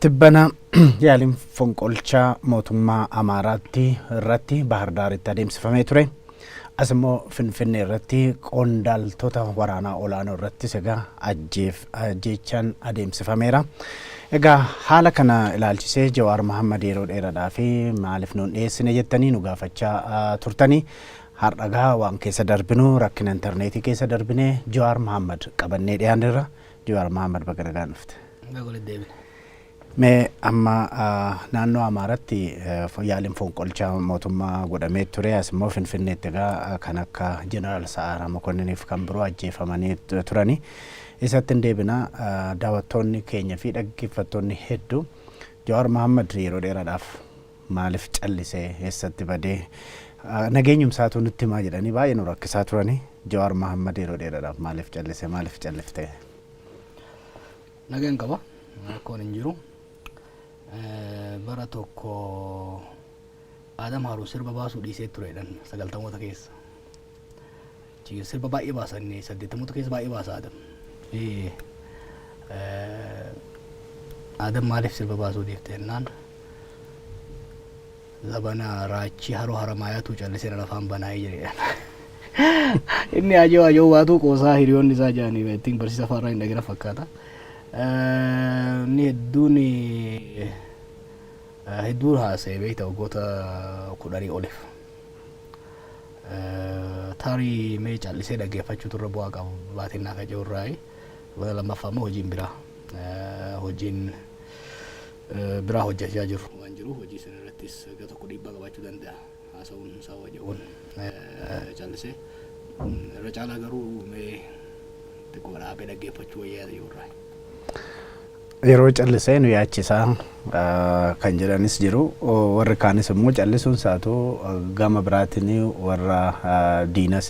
Tibbana yaaliin fonqolchaa mootummaa Amaaraatti irratti Bahar Daaritti adeemsifamee ture. As immoo Finfinnee irratti qondaaltota waraanaa olaanoo irrattis egaa ajjeef ajjeechaan adeemsifameera. Egaa haala kana ilaalchisee Jawaar Mahammad yeroo dheeradhaa fi maaliif nuun dhiyeessine jettanii nu gaafachaa ah, turtanii har'a gaa waan keessa darbinu rakkina intarneetii keessa darbinee Jawaar Mahammad qabannee dhiyaanirra Jawaar Mahaammad baga nagaan dhufte. Baga walitti deebine. Mee amma naannoo Amaaratti yaaliin fonqolchaa mootummaa godhamee ture as immoo Finfinneetti egaa kan akka Jeneraal Sa'aaraa Mokonninii fi kan biroo ajjeefamanii turani. Isatti hin deebina daawwattoonni keenya fi dhaggeeffattoonni hedduu Jawaar Mahaammad yeroo dheeraadhaaf maalif callise eessatti badee nageenyum isaatuu nutti himaa jedhanii baay'ee nu rakkisaa turani Jawaar Mahammad yeroo dheeradhaaf maalif callise maalif callifte? Nagaan qaba rakkoon hin jiru bara tokko Aadam Haaruun sirba baasuu dhiisee tureedhan sagaltamoota keessa. Achi keessa sirba baay'ee baasa inni saddeettamoota keessa baay'ee baasa Adam. Ee, eh, Adam maaliif sirba baasuu dhiifte jennaan zabana raachii haroo haramaayaatu callisee dhala afaan banaa'ee jedhe. Inni ajoo ajoo waatuu qoosaa hiriyoonni isaa jaanii ittiin barsiisa afaarraa hin dhagina fakkaata. Eh, Inni hedduun eh, hedduun haasa'e beekta waggoota kudhanii oliif. Tarii mee callisee dhaggeeffachuutu irra bu'aa qaba baatiin naa kaca'u irraayi. Bara lammaffaa immoo hojiin biraa hojiin biraa hojjechaa jiru waan jiru hojii sana irrattis gara tokko dhiibbaa qabaachuu danda'a haasa'uun isaa waja'uun callisee irra caalaa garuu mee xiqqoo dhaabee dhaggeeffachuu wayyaa yoo irraa. Yeroo callisee nu yaachisa kan jedhanis jiru. Warri kaanis immoo callisuun isaatu gama biraatiin warra diinas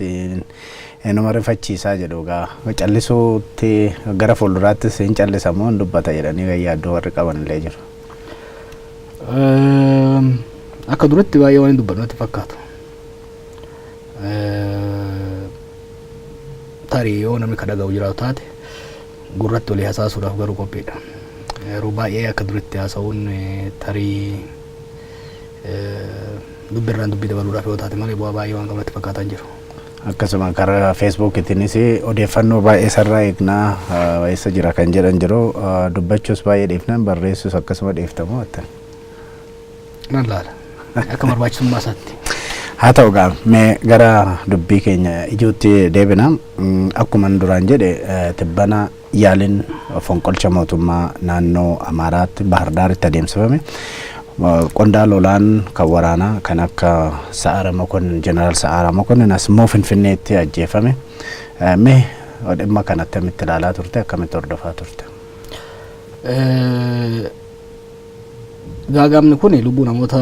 inuma rifachiisaa jedhu egaa. Callisuutti gara fuulduraattis hin callisa moo hin dubbata jedhanii kan yaaddoo warri qaban illee jiru. Akka duratti baay'ee waan hin dubbanne natti fakkaatu. Tarii yoo namni ka dhaga'u jiraatu taate Gurratti walii hasaasuudhaaf garuu qophiidha. Yeroo baay'ee akka duritti haasa'uun tarii dubbi irraan dubbii dabaluudhaaf yoo taate malee bu'aa baay'ee waan qabu natti fakkaataa hin jiru. Akkasuma karaa feesbuukitiinis odeeffannoo baay'ee isarraa eegnaa eessa jira kan jedhan jiru dubbachuus baay'ee dhiifnaan barreessuus akkasuma dhiiftamoo attan. nan laala akka barbaachisummaa isaatti. Haa ta'u gaa mee gara dubbii keenya ijuutti deebina. Mm, Akkuma inni duraan jedhe eh, tibbana yaaliin fonqolcha mootummaa naannoo Amaaraatti Bahar Daaritti adeemsifame. Eh, Qondaala olaan kan waraanaa kan akka Sa'aara Mokonnin, Jeneraal Sa'aara Mokonnin as immoo Finfinneetti ajjeefame. Eh, Mee dhimma kana attamitti ilaalaa turte akkamitti hordofaa turte? Eh, Gaaga'amni kun lubbuu namoota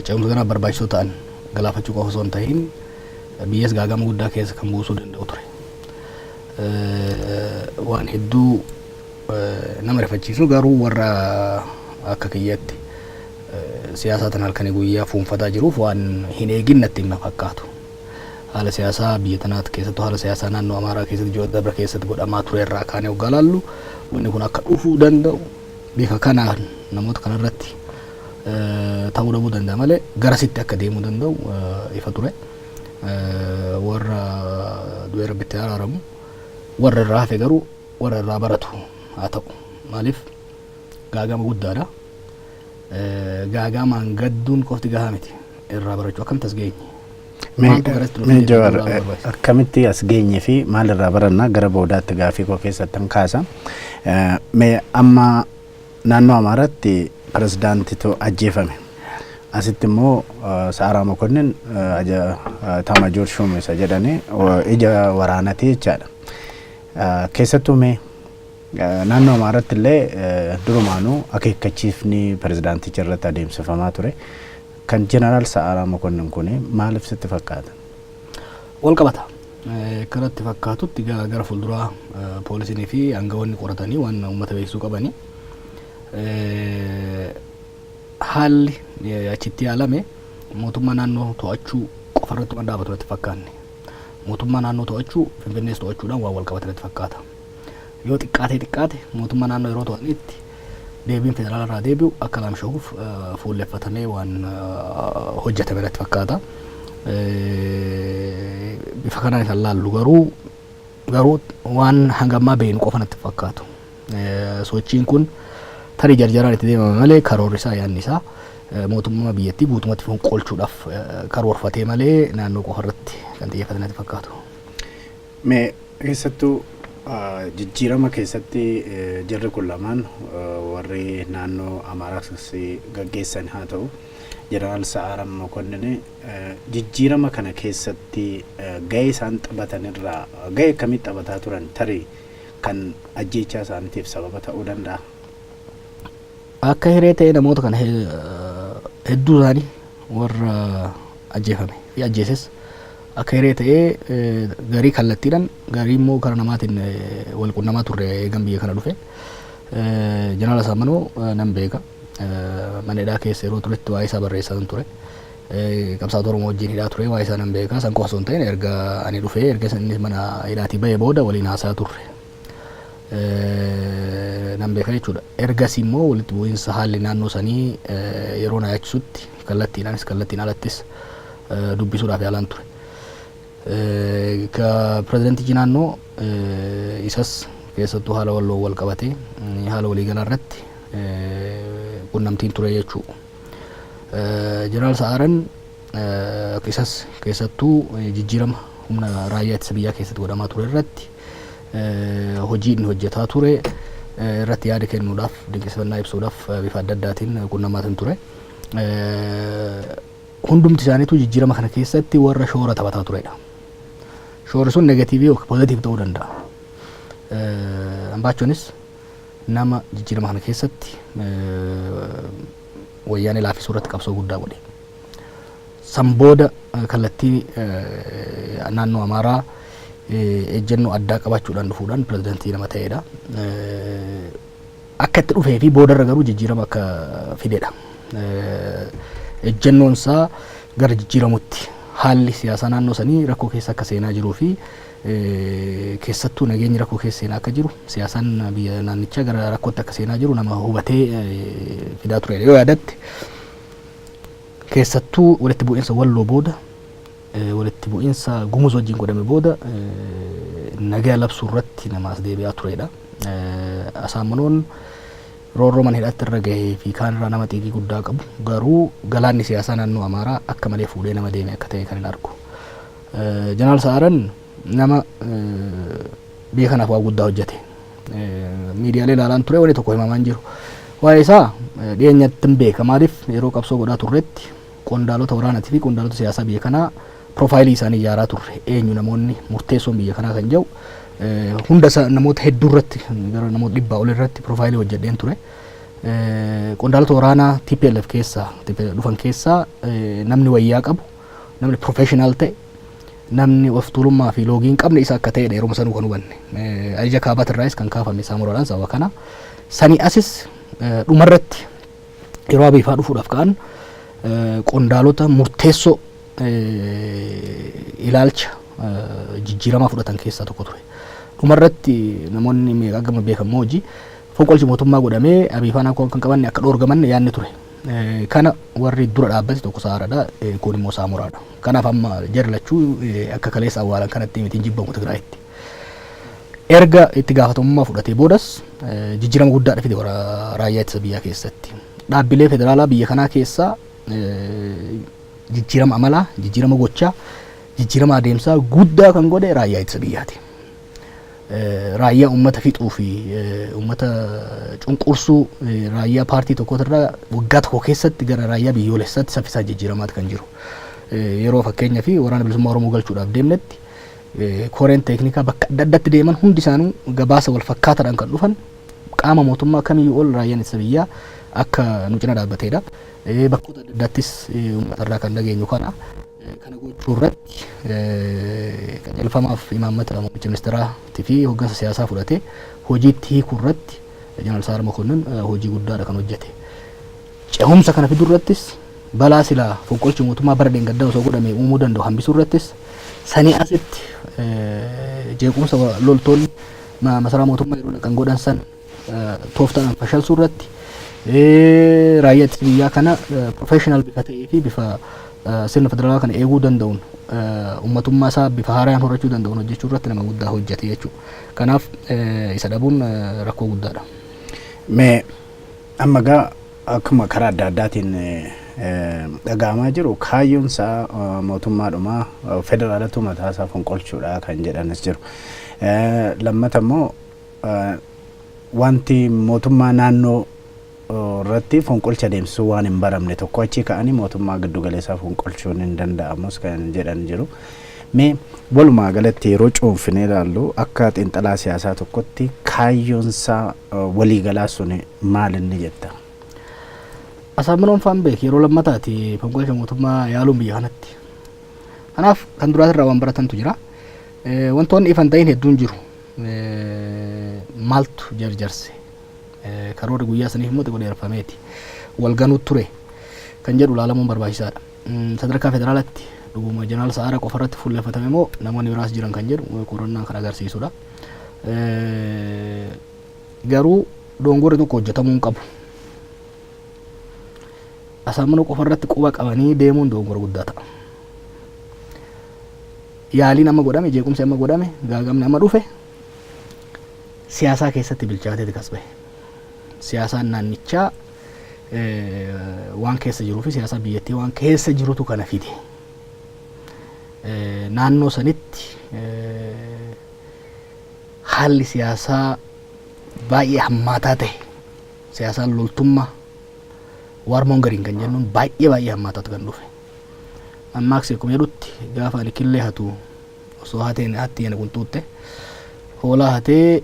ce'umsa kanaaf barbaachisoo ta'an galaafachuu qofa osoo hin ta'iin biyyas gaaga'ama guddaa keessa kan buusuu danda'u ture. Waan hedduu nama rifachiisu garuu warra akka kiyyatti siyaasaa tan halkanii guyyaa fuunfataa jiruuf waan hin eegin natti hin fakkaatu. haala siyaasaa biyya tanaatti keessattuu haala siyaasaa naannoo Amaaraa keessatti ji'oota darbe keessatti godhamaa ture irraa kaanee hoggaa laallu wanni kun akka dhufuu danda'u bifa kanaan namoota kanarratti eh, ta'uu dhabuu danda'a malee garasitti akka deemuu danda'u eh, ifa ture. Eh, Warra du'ee rabbitti araaramu warra irraa hafe garuu warra irraa baratu haa ta'u maaliif gaagama guddaadha. gaagaamaan gadduun qofti gahaa miti. Irraa barachuu akkamitti as geenye? Maaltu gara itti nu Mee fide Jawaar jechuu ilaaluu barbaachisa. akkamitti as geenye fi maalirraa barannaa gara boodaatti gaafii koo keessattan kaasa. Eh, Mee amma naannoo Amaaraatti pirezidaantitu ajjeefame. Asitti immoo eh, Sa'aaraa Mokonnin eh, aja eh, Taamaajoor Shuum isa jedhanii eh, ija waraanati jechaadha. Eh, Keessattuu mee Naannoo Amaaratti illee durumaanuu akeekkachiifni pirezidaanticha irratti adeemsifamaa ture. Kan Jeneraal Sa'aaraa Mokonnin kuni maaliif sitti fakkaata? Wal qabata. Akka natti fakkaatutti gara gara fuulduraa poolisiinii fi aangawoonni qoratanii waan uummata beeksisuu qabani. Haalli achitti yaalame mootummaa naannoo to'achuu qofa irratti waan dhaabatu natti fakkaanne. Mootummaa naannoo to'achuu Finfinnees to'achuudhaan waan wal qabate natti fakkaata. yoo xiqqaatee xiqqaate mootummaa naannoo yeroo to'anneetti deebiin federaala irraa deebi'u akka laamsha'uuf fuulleffatamee waan hojjetame irratti fakkaata. Bifa kanaan kan laallu garuu garuu waan hangammaa beeknu qofa natti fakkaatu. Sochiin kun tarii jarjaraan itti deemame malee karoorri isaa yaadni isaa mootummaa biyyattii guutumatti fonqolchuudhaaf karoorfatee malee naannoo qofa irratti kan xiyyeeffate natti fakkaatu. Me keessattu jijjiirama keessatti jarri kun lamaan warri naannoo Amaaraas gaggeessan haa ta'u Jeneraal Sa'aaram Mokonnin jijjiirama kana keessatti gahee isaan taphatan irraa gahee akkamii taphataa turan tarii kan ajjeechaa isaaniitiif sababa ta'uu danda'a. Akka hiree ta'ee namoota kana hedduu isaanii warra ajjeefame fi ajjeeses Akka hiree ta'ee garii kallattiidhan garii immoo kara namaatiin wal qunnamaa turre eegan biyya kana dhufe. Jeneraal Asaammanoo nan beeka. Mana hidhaa keessa yeroo turetti waa'ee isaa barreessaan ture. Qabsaa'ota Oromoo wajjin hidhaa ture waa'ee isaa nan beeka. San qofa osoo hin ta'in erga ani dhufee erga inni mana hidhaatii ba'e booda waliin haasaa turre. nan beeka jechuudha. Ergas immoo walitti bu'iinsa haalli naannoo sanii yeroo na yaachisutti kallattiidhaanis kallattiin alattis dubbisuudhaaf yaalaan ture. Ka pirezidantichi naannoo isas keessattuu haala walloo wal qabatee haala waliigalaa irratti qunnamtiin ture jechuu. Jeneraal Sa'aaran Isas keessattuu jijjiirama humna raayyaa ittisa biyyaa keessatti godhamaa ture irratti hojii inni hojjetaa ture irratti yaada kennuudhaaf dinqisifannaa ibsuudhaaf bifa adda addaatiin qunnamaatiin ture. Hundumti isaaniitu jijjiirama kana keessatti warra shoora taphataa turedha. Shoorri sun negatiivii yookiin pozitiivii ta'uu danda'a. Ambaachonis nama jijjiirama kana keessatti wayyaanee laafisuu irratti qabsoo guddaa godhe. San booda kallattii naannoo Amaaraa ejjennoo addaa qabaachuudhaan dhufuudhaan pirezidantii nama ta'edha. Akka itti dhufee fi boodarra garuu jijjiirama akka fidedha. Ejjennoon isaa gara jijjiiramutti haalli siyaasaa naannoo sanii rakkoo keessa akka seenaa jiruu fi keessattuu nageenyi rakkoo keessa seenaa akka jiru siyaasaan biyya naannichaa gara rakkootti akka seenaa jiru nama hubatee fidaa turedha. Yoo yaadatte Keessattuu walitti bu'iinsa Walloo booda walitti bu'iinsa Gumuz wajjin godhame booda nagaa labsuu irratti nama as deebi'aa turedha. Asaamanoon roorroo mana hidhaatti irra gahee fi kaan irraa nama xiiqii guddaa qabu garuu galaanni siyaasaa naannoo Amaaraa akka malee fuudhee nama deeme akka ta'e kan hin argu. Jeneraal Sa'aaran nama biyya kanaaf waa guddaa hojjete miidiyaalee ilaalaan ture wanni tokko himamaa hin jiru. Waa'ee isaa dhiyeenyatti hin beeka maaliif yeroo qabsoo godhaa turretti qondaalota waraanatii fi qondaalota siyaasaa biyya kanaa piroofaayilii isaanii ijaaraa turre eenyu namoonni murteessoon biyya kanaa kan jedhu hunda isaa namoota hedduu irratti gara namoota dhibbaa ol irratti piroofaayilii hojjedheen ture. Qondaalota waraanaa TPLF keessaa dhufan keessaa namni wayyaa qabu namni professional ta'e namni of tuulummaa fi loogii hin qabne isa akka ta'edha yeroo sanuu kan hubanne. Eh, Ajaja kaabatirraayis kan kaafame saamuradhaan sababa kana. Sanii asis eh, dhumarratti yeroo abiifaa dhufuudhaaf ka'an eh, qondaalota murteessoo eh, ilaalcha eh, jijjiiramaa fudhatan keessaa tokko ture. Dhumarratti namoonni meeqa gama beekamoo hojii fonqolchi mootummaa godhamee abiifaan akka kan qabanne akka dhoorgamanne yaadni ture. Kana warri dura dhaabbate tokko Saharaadha, kuun immoo Saamoraadha. Kanaaf amma jarri lachuu akka kaleessa awwaalan kanatti miti hin jibbamu Tigraayitti. Erga itti gaafatamummaa fudhatee boodas jijjiirama guddaadha fide warra raayyaa ittisa biyyaa keessatti. Dhaabbilee federaalaa biyya kanaa keessaa jijjiirama amalaa, jijjiirama gochaa, jijjiirama adeemsaa guddaa kan godhe raayyaa ittisa biyyaati. raayyaa uummata fixuu fi uummata cunqursuu raayyaa paartii tokkootirraa waggaa tokko keessatti gara raayyaa biyyoolessaatti saffisaa jijjiiramaati kan jiru. Yeroo fakkeenya fi waraana bilisummaa Oromoo galchuudhaaf deemnetti koreen teeknikaa bakka adda addatti deeman hundi isaanuu gabaasa wal fakkaataadhaan kan dhufan qaama mootummaa kamiyyuu ol raayyaan ittisa biyyaa akka nu cina dhaabbateedha. Bakkoota adda addaattis uummatarraa kan dhageenyu kana. Kana gochuu irratti qajeelfamaaf imaammata muummicha ministeeraatii fi hoggansa siyaasaa fudhate hojiitti hiikuu irratti Jeneraal Sa'aad Mokonnin hojii guddaadha kan hojjete. Cehumsa kana fiduu irrattis balaa silaa fonqolchi mootummaa bara dheengaddaa osoo godhame uumuu danda'u hambisuu irrattis sanii asitti jeequmsa loltoonni masaraa mootummaa yeroo dhaqan godhan san tooftaadhaan fashalsuu irratti raayyaa ittisa biyyaa kana professional bifa ta'ee fi bifa sirna federaalaa kana eeguu danda'uun ummatummaa isaa bifa haaraan horachuu danda'uun hojjechuu irratti nama guddaa hojjete jechuudha. Kanaaf isa dhabuun rakkoo guddaadha. Mee amma gaa akkuma karaa adda addaatiin dhaga'amaa jiru kaayyoon isaa mootummaadhuma federaalatu mataa isaa fonqolchuudha kan jedhanis jiru. Lammata immoo Wanti mootummaa naannoo irratti fonqolcha adeemsisuu waan hin baramne tokko achii ka'anii mootummaa giddugaleessaa fonqolchuun hin danda'amus kan jedhan jiru. Mee walumaa galatti yeroo cuunfinee ilaallu akka xiinxalaa siyaasaa tokkotti kaayyoonsaa waliigalaa sun maal inni jetta? Asaaminoon Faanbeek yeroo lammataati fonqolcha mootummaa yaaluun biyya kanatti. Kanaaf kan duraatirraa waan baratantu jira. Wantoonni ifan ta'in hedduun jiru. Maaltu jarjarse? Karoorri guyyaa saniif immoo xiqqoo dheereffameeti wal ganuu ture kan jedhu ilaalamuun barbaachisaadha. Sadarkaa federaalaatti dhuguma Jeneraal Sa'aaraa qofa irratti fuulleffatame moo namoonni biraas jiran kan jedhu qorannaan kan agarsiisudha. Garuu doongorri tokko hojjetamuu hin qabu. Asaammanoo qofa irratti quba qabanii deemuun doongora guddaa ta'a. yaaliin amma godhame jeequmsi amma godhame gaagamni amma dhufe siyaasaa keessatti bilchaateeti kas bahe. Siyaasaan naannichaa waan keessa jiruu fi siyaasaa biyyattii waan keessa jirutu kana fide. Naannoo sanitti haalli siyaasaa baay'ee hammaataa ta'e siyaasaan loltummaa waarmoon gariin kan jennuun baay'ee baay'ee hammaataatu kan dhufe. Mammaaksi akkuma jedhutti gaafa ani killee hatu osoo hateen hatti yana qunxuuxxe hoolaa hatee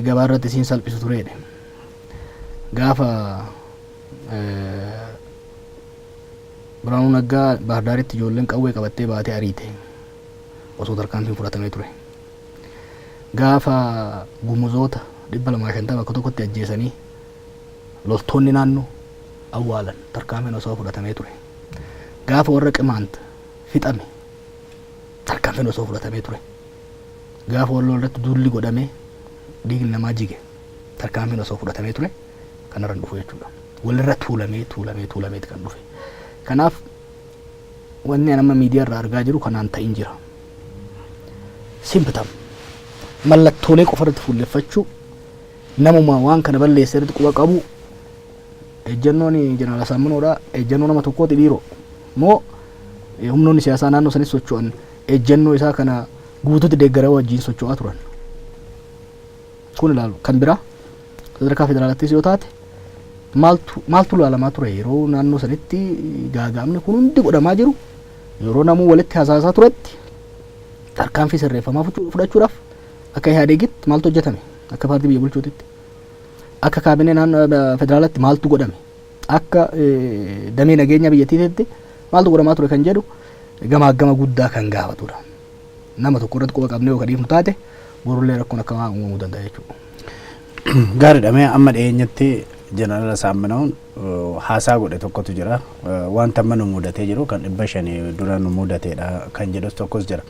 gabaa irratti isiin salphisu tureedhe. Gaafa Biraanuu Naggaa Baahirdaaritti ijoolleen qawwee qabattee baatee ariite osoo tarkaanfiin fudhatamee ture. Gaafa gumuzoota dhibba lamaa shantama akka tokkotti ajjeesanii loltoonni naannoo awwaalan tarkaanfiin osoo fudhatamee ture. Gaafa warra Qimaant fixame tarkaanfiin osoo fudhatamee ture. Gaafa Walloo irratti duulli godhamee dhiigni namaa jige tarkaanfiin osoo fudhatamee ture kanarra hin dhufu jechuudha. Walirra tuulamee tuulamee tuulameeti kan dhufe. Kanaaf wanni an amma miidiyaa irraa argaa jiru kanaan ta'in jira. Simptom mallattoolee qofa irratti fuulleffachuu namumaa waan kana balleesse irratti quba qabu Ejjannoon Jeneraal Asaammanoodha. Ejjannoo nama tokkooti dhiiroo? Moo humnoonni siyaasaa naannoo sanis socho'an ejjannoo isaa kana guututti deeggaraa wajjin socho'aa turan? Kun ilaalu kan biraa sadarkaa federaalattis yoo taate maaltu maaltu ilaalamaa ture yeroo naannoo sanitti gaaga'amni kun hundi godhamaa jiru yeroo namuu walitti hasaasaa turetti tarkaanfii sirreeffamaa fudhachuudhaaf akka ihaadeegitti maaltu hojjetame akka paartii biyya bulchuutitti. akka kaabinee naannoo federaalatti maaltu godhame akka damee nageenya biyyattiitti maaltu godhamaa ture kan jedhu gamaaggama guddaa kan gaafatudha. Nama tokko irratti quba qabnee yookaan dhiifnu taate borullee rakkoon akkamaa uumamuu danda'a jechuudha. Gaariidha mee amma dhiyeenyatti jeneraala Saamminawuun haasaa godhe tokkotu jira. Wanta amma nu mudatee jiru kan dhibba shanii dura nu mudateedha kan jedhus tokkos jira.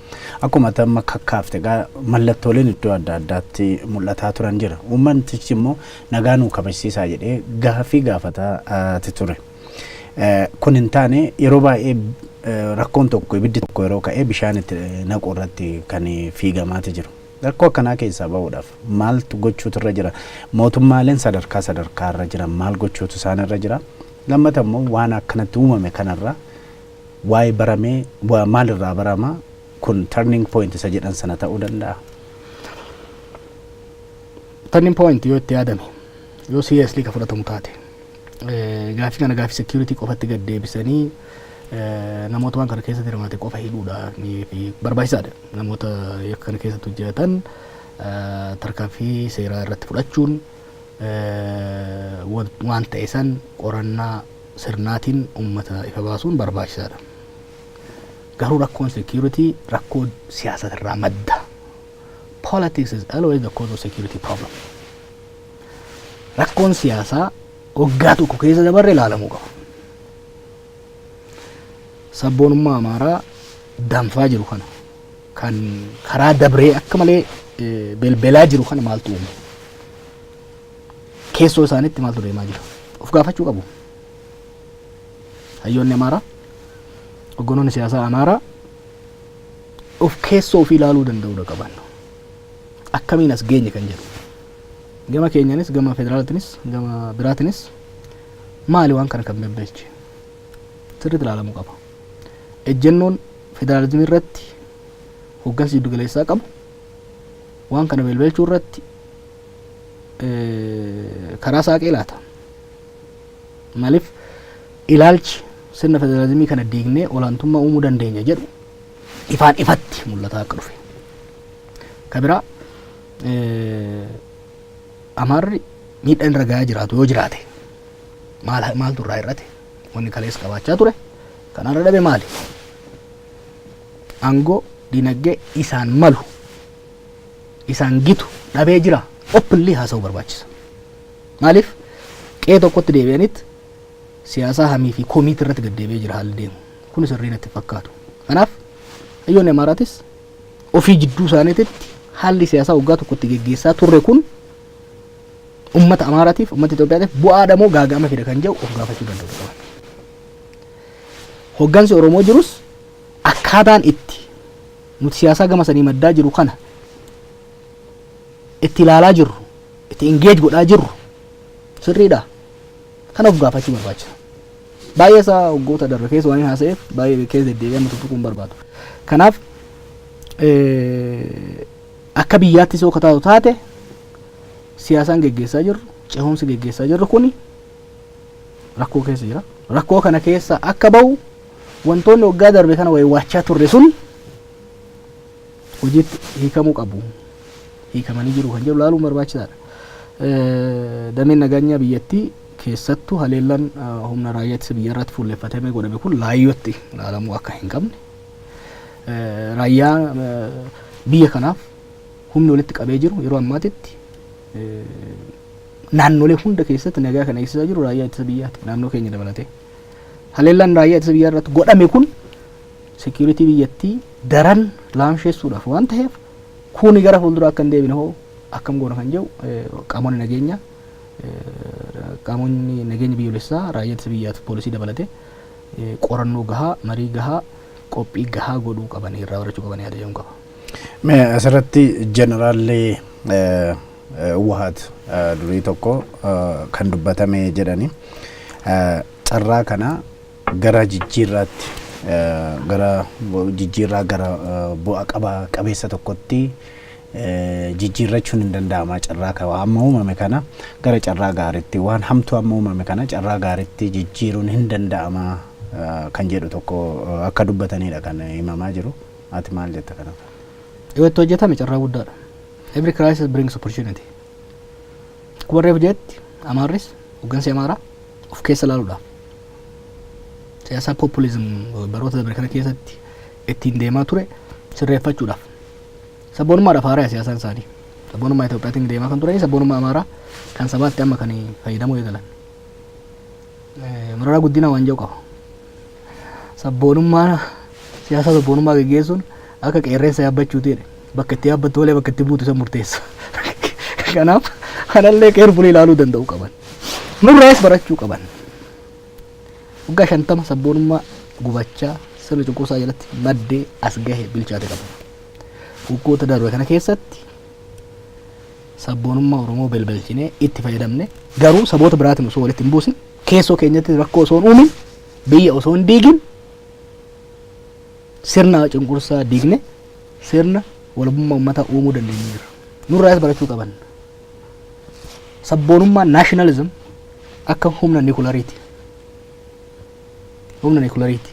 Akkuma ati amma kakkaafte egaa mallattooleen iddoo adda addaatti mul'ataa turan jira. Uummantichi immoo nagaa nuu kabajsiisaa jedhee gaaffii gaafataati ture. Eh, Kun hin taane yeroo baay'ee eh, rakkoon tokko ibiddi tokko yeroo ka'e bishaan itti naquu irratti kan fiigamaati jiru. Rakkoo akkanaa keessaa ba'uudhaaf maaltu gochuutu irra jira? Mootummaaleen sadarkaa sadarkaa irra jiran maal gochuutu isaan irra jira? Lammata immoo waan akkanatti uumame kanarraa Why barame wa maal irraa barama kun turning point isa jedhan sana ta'uu danda'a. Turning point yoo itti yaadame yoo seriously ka fudhatamu taate eh, gaafii kana gaafii security qofatti gad deebisanii eh, namoota waan kana keessatti hirmaate qofa hidhuudha ni- fi barbaachisaadha namoota yakka kana keessatti hojjetan eh, tarkaanfii seeraa irratti fudhachuun eh, wan- waan ta'e san qorannaa sirnaatiin uummata ifa baasuun barbaachisaadha. Garuu rakkoon security rakkoo siyaasati irraa madda. Politics is always the cause of security problem. Rakkoon siyaasaa waggaa tokko keessa dabarre ilaalamuu qaba. Sabboonummaa Amaaraa danfaa jiru kana kan karaa dabree akka malee belbelaa jiru kana maaltu uume? Keessoo isaanitti maaltu deemaa jira? Of gaafachuu qabu. Hayyoonni Amaaraa, hogganoonni siyaasaa Amaaraa of keessoo ofii ilaaluu danda'uudha qaban. Akkamiin as geenye kan jedhu. Gama keenyanis, gama federaalaatinis, gama biraatinis maali waan kana kan bebbeeche? Sirriitti ilaalamuu qaba. Ejjennoon federaalizimii irratti hoggansi jiddu galeessaa qabu waan kana belbelchuu irratti karaa saaqee laata? Maaliif ilaalchi sirna federaalizimii kana diignee olaantummaa uumuu dandeenya jedhu ifaan ifatti mul'ataa akka dhufe. Ka biraa Amaarri miidhaan irra gahaa jiraatu yoo jiraate maal maaltu irraa hir'ate wanni kalees qabaachaa ture kan har'a dhabe maali? Aangoo dinagdee isaan malu isaan gitu dhabee jira openly haasa'uu barbaachisa. Maaliif qe'ee tokkotti deebi'anitti siyaasaa hamii fi komiitti irratti gad deebi'ee jira haalli deemu. Kun sirrii natti hin fakkaatu. Kanaaf hayyoonni Amaaraatis ofii jidduu isaaniititti haalli siyaasaa waggaa tokkotti geggeessaa turre kun ummata Amaaraatiif ummata Itoophiyaatiif bu'aadha moo gaaga'ama fida kan jedhu of gaafachuu danda'u qaban. Hoggansi Oromoo jirus Akkaataan itti nuti siyaasaa gama sanii maddaa jiru kana itti ilaalaa jirru, itti engage godhaa jirru sirriidha? Kana of gaafachuu barbaachisa. Baay'ee isaa waggoota darbe keessa waan haasa'eef baay'ee keessa deddeebi'ee amma tuttuquu hin barbaadu. Kanaaf akka biyyaatti soo ka taatu taate siyaasaan geggeessaa jirru, ce'umsi geggeessaa jirru kuni rakkoo keessa jira. Rakkoo kana keessa akka ba'u wantoonni waggaa darbe kana waywaachaa turre sun hojiitti hiikamuu qabu. Hiikamanii jiru kan jedhu laaluun barbaachisaadha. Dameen nageenyaa biyyattii keessattuu haleellaan humna raayyaa ittisa biyyaa irratti fuulleffatamee godhame kun laayyootti ilaalamuu akka hin qabne raayyaa biyya kanaaf humni walitti qabee jiru yeroo ammaatitti naannolee hunda keessatti nagaa kan eegsisaa jiru raayyaa ittisa biyyaati naannoo keenya dabalatee. Haleellaan raayyaa ittisa biyyaa irratti godhame kun seekiyuritii biyyattii daran laamsheessuudhaaf waan ta'eef kuuni gara fuulduraa akka hin deebine hoo akkam goona kan jedhu eh, qaamonni nageenyaa eh, qaamonni nageenya biyyoolessaa raayyaa ittisa biyyaa fi poolisii dabalatee eh, qorannoo gahaa marii gahaa qophii gahaa godhuu qabanii irraa barachuu qabanii yaada jedhuun qaba. Mee asirratti jeneraalli eh, Hwuhaat durii tokko kan dubbatame jedhani. Carraa kana gara jijjiirraatti gara jijjiirraa gara bu'a qaba qabeessa tokkotti jijjiirrachuun hin danda'ama carraa kana amma uumame kana gara carraa gaaritti waan hamtuu amma uumame kana carraa gaaritti jijjiiruun hin danda'ama kan jedhu tokko akka dubbataniidha kan himamaa jiru. Ati maal jetta kanarratti? Yoo itti hojjetame carraa guddaadha. Every crisis brings opportunity. Akkuma reefu jedhetti Amaarris hooggansi Amaaraa of keessa ilaaluudha. Siyaasaa populism baroota dabre kana keessatti ittiin deemaa ture sirreeffachuudhaaf. Sabboonummaadhaaf haaraya siyaasaan isaanii. Sabboonummaa Itoophiyaatiin deemaa kan turanii sabboonummaa Amaaraa kan sabaatti amma kan fayyadamuu eegalan. Mararaa Guddinaa waan jedhu qaba. Sabboonummaa siyaasa sabboonummaa geggeessuun akka qeerreessa yaabbachuuti jedhe. Bakka itti yaabbattu malee bakka itti buutu isa murteessa. Kanaaf kanallee keerfulii ilaaluu danda'u qaban. Nurraas barachuu qaban. Waggaa shantama sabboonummaa gubachaa sirna cunqursaa jalatti maddee as gahe bilchaate qabu. Waggoota darbe kana keessatti Sabboonummaa Oromoo belbelchinee itti fayyadamne garuu saboota biraatiin osoo walitti hin buusin keessoo keenyatti rakkoo osoo hin uumin biyya osoo hin diigin sirna cunqursaa diigne sirna walabummaa uummataa uumuu dandeenyu jira. Nurraas barachuu qaban. Sabboonummaa nationalism akka humna nikulariiti. Humna nikulariiti.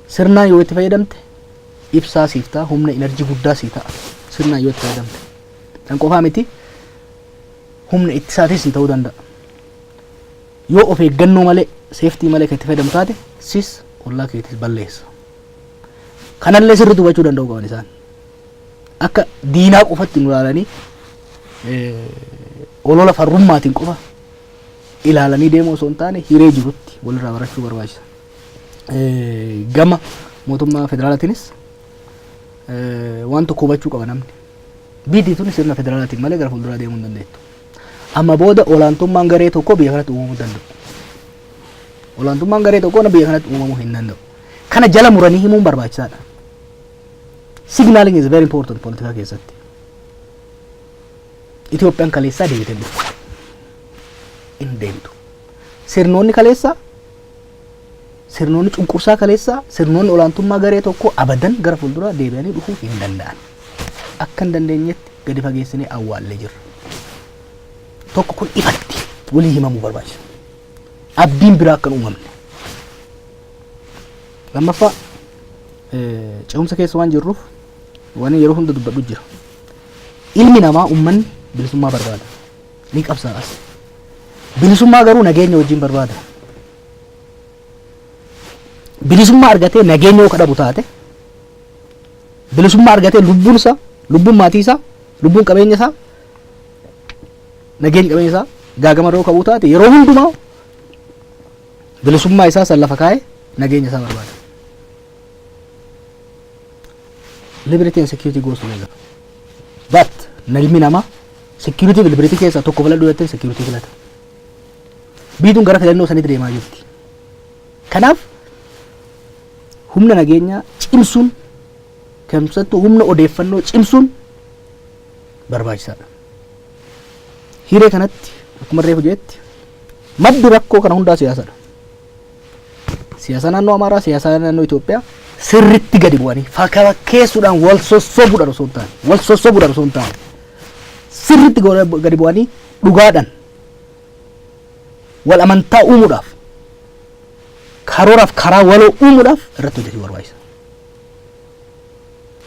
Sirnaan yoo itti fayyadamte ibsaa siif ta'a, humna enerjii guddaa sii ta'a. Sirnaan yoo itti fayyadamte. Kan qofaa miti humna ittisaatiis sii ta'uu danda'a. Yoo of eeggannoo malee, seeftii malee kan itti fayyadamu taate sis ollaa keetis balleessa. Kanallee sirriitti hubachuu danda'uu qaban isaan. Akka diinaa qofatti nu ilaalanii olola farrummaatiin qofa ilaalanii deemuu osoo hin taane hiree jirutti walirraa barachuu barbaachisa. gama mootummaa federaalaatiinis waan tokko hubachuu qaba namni. Biitii tuni sirna federaalaatiin malee gara fuulduraa deemuu hin dandeettu. Amma booda olaantummaan garee tokko biyya kanatti uumamuu hin danda'u. Olaantummaan garee tokko biyya kanatti uumamuu hin danda'u. Kana jala muranii himuun barbaachisaadha. Signaling is very important politikaa keessatti. Itoophiyaan kaleessaa deebitee dhufte. Hin deemtu. Sirnoonni kaleessaa Sirnoonni cunqursaa kaleessaa sirnoonni olaantummaa garee tokkoo abadan gara fuulduraa deebi'anii dhufuu hin danda'an. Akka hin dandeenyetti gadi fageessinee awwaallee jirra. Tokko kun ifatti walii himamuu barbaachisa. Abdiin biraa akka hin uumamne. Lammaffaa ce'umsa keessa waan jirruuf waan yeroo hunda dubbadhu jira. Ilmi namaa uummanni bilisummaa barbaada. ni qabsaa'as. Bilisummaa garuu nageenya wajjin barbaada. Bilisummaa argatee nageenya yoo kadhabu taate bilisummaa argatee lubbuun isaa lubbuun maatii isaa lubbuun qabeenya isaa nageenya qabeenya isaa gaagama irra yoo ka'uu taate yeroo hundumaa bilisummaa isaa san lafa kaa'ee nageenya isaa barbaada. Liberty and security goes together. But nalmi namaa security bilbiriti keessaa tokko filadhu jettee security filata. Biituun gara filannoo sanitti deemaa jirti. Kanaaf humna nageenyaa cimsuun keessattuu humna odeeffannoo cimsuun barbaachisaadha. Hiree kanatti akkuma reefu jeetti maddi rakkoo kana hundaa siyaasadha. Siyaasa naannoo Amaaraa, siyaasa naannoo Itoophiyaa sirriitti gadi bu'anii fakkeessuudhaan wal sossobuudhaan osoo hin taane, wal sossobuudhaan osoo hin taane, sirriitti gadi bu'anii dhugaadhaan wal amantaa uumuudhaaf, karooraaf karaa waloo uumuudhaaf irratti hojjetuu barbaachisa.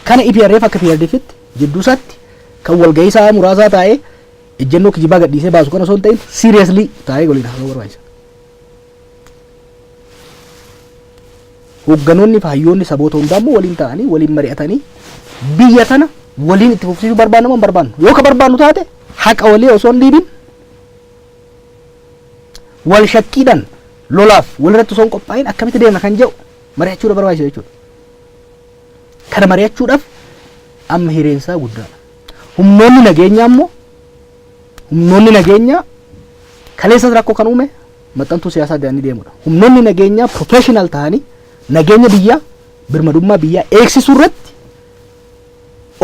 Kana EPRF akka PRDFitti jidduu isaatti kan walgahii isaa muraasaa taa'ee ejjennoo kijibaa gadhiisee baasu kan osoo hin ta'in seriously taa'ee waliin haasa'uu barbaachisa. Hoogganoonni fi hayyoonni saboota hundaa immoo waliin ta'anii waliin mari'atanii biyya tana waliin itti fufsiisuu barbaanna moo hin barbaannu? Yoo ka barbaannu taate haqa walii osoo hin dhiibin wal shakkiidhaan lolaaf walirratti osoo hin qophaa'in akkamitti deemna kan jedhu mari'achuu irra barbaachisa jechuudha. Kana mari'achuudhaaf amma hireen isaa guddaadha. Humnoonni nageenyaa immoo Humnoonni nageenyaa kaleessas rakkoo kan uume maxxantuu siyaasaa jedhanii deemudha. Humnoonni nageenyaa professional ta'anii nageenya biyyaa birmadummaa biyyaa eegsisuu irratti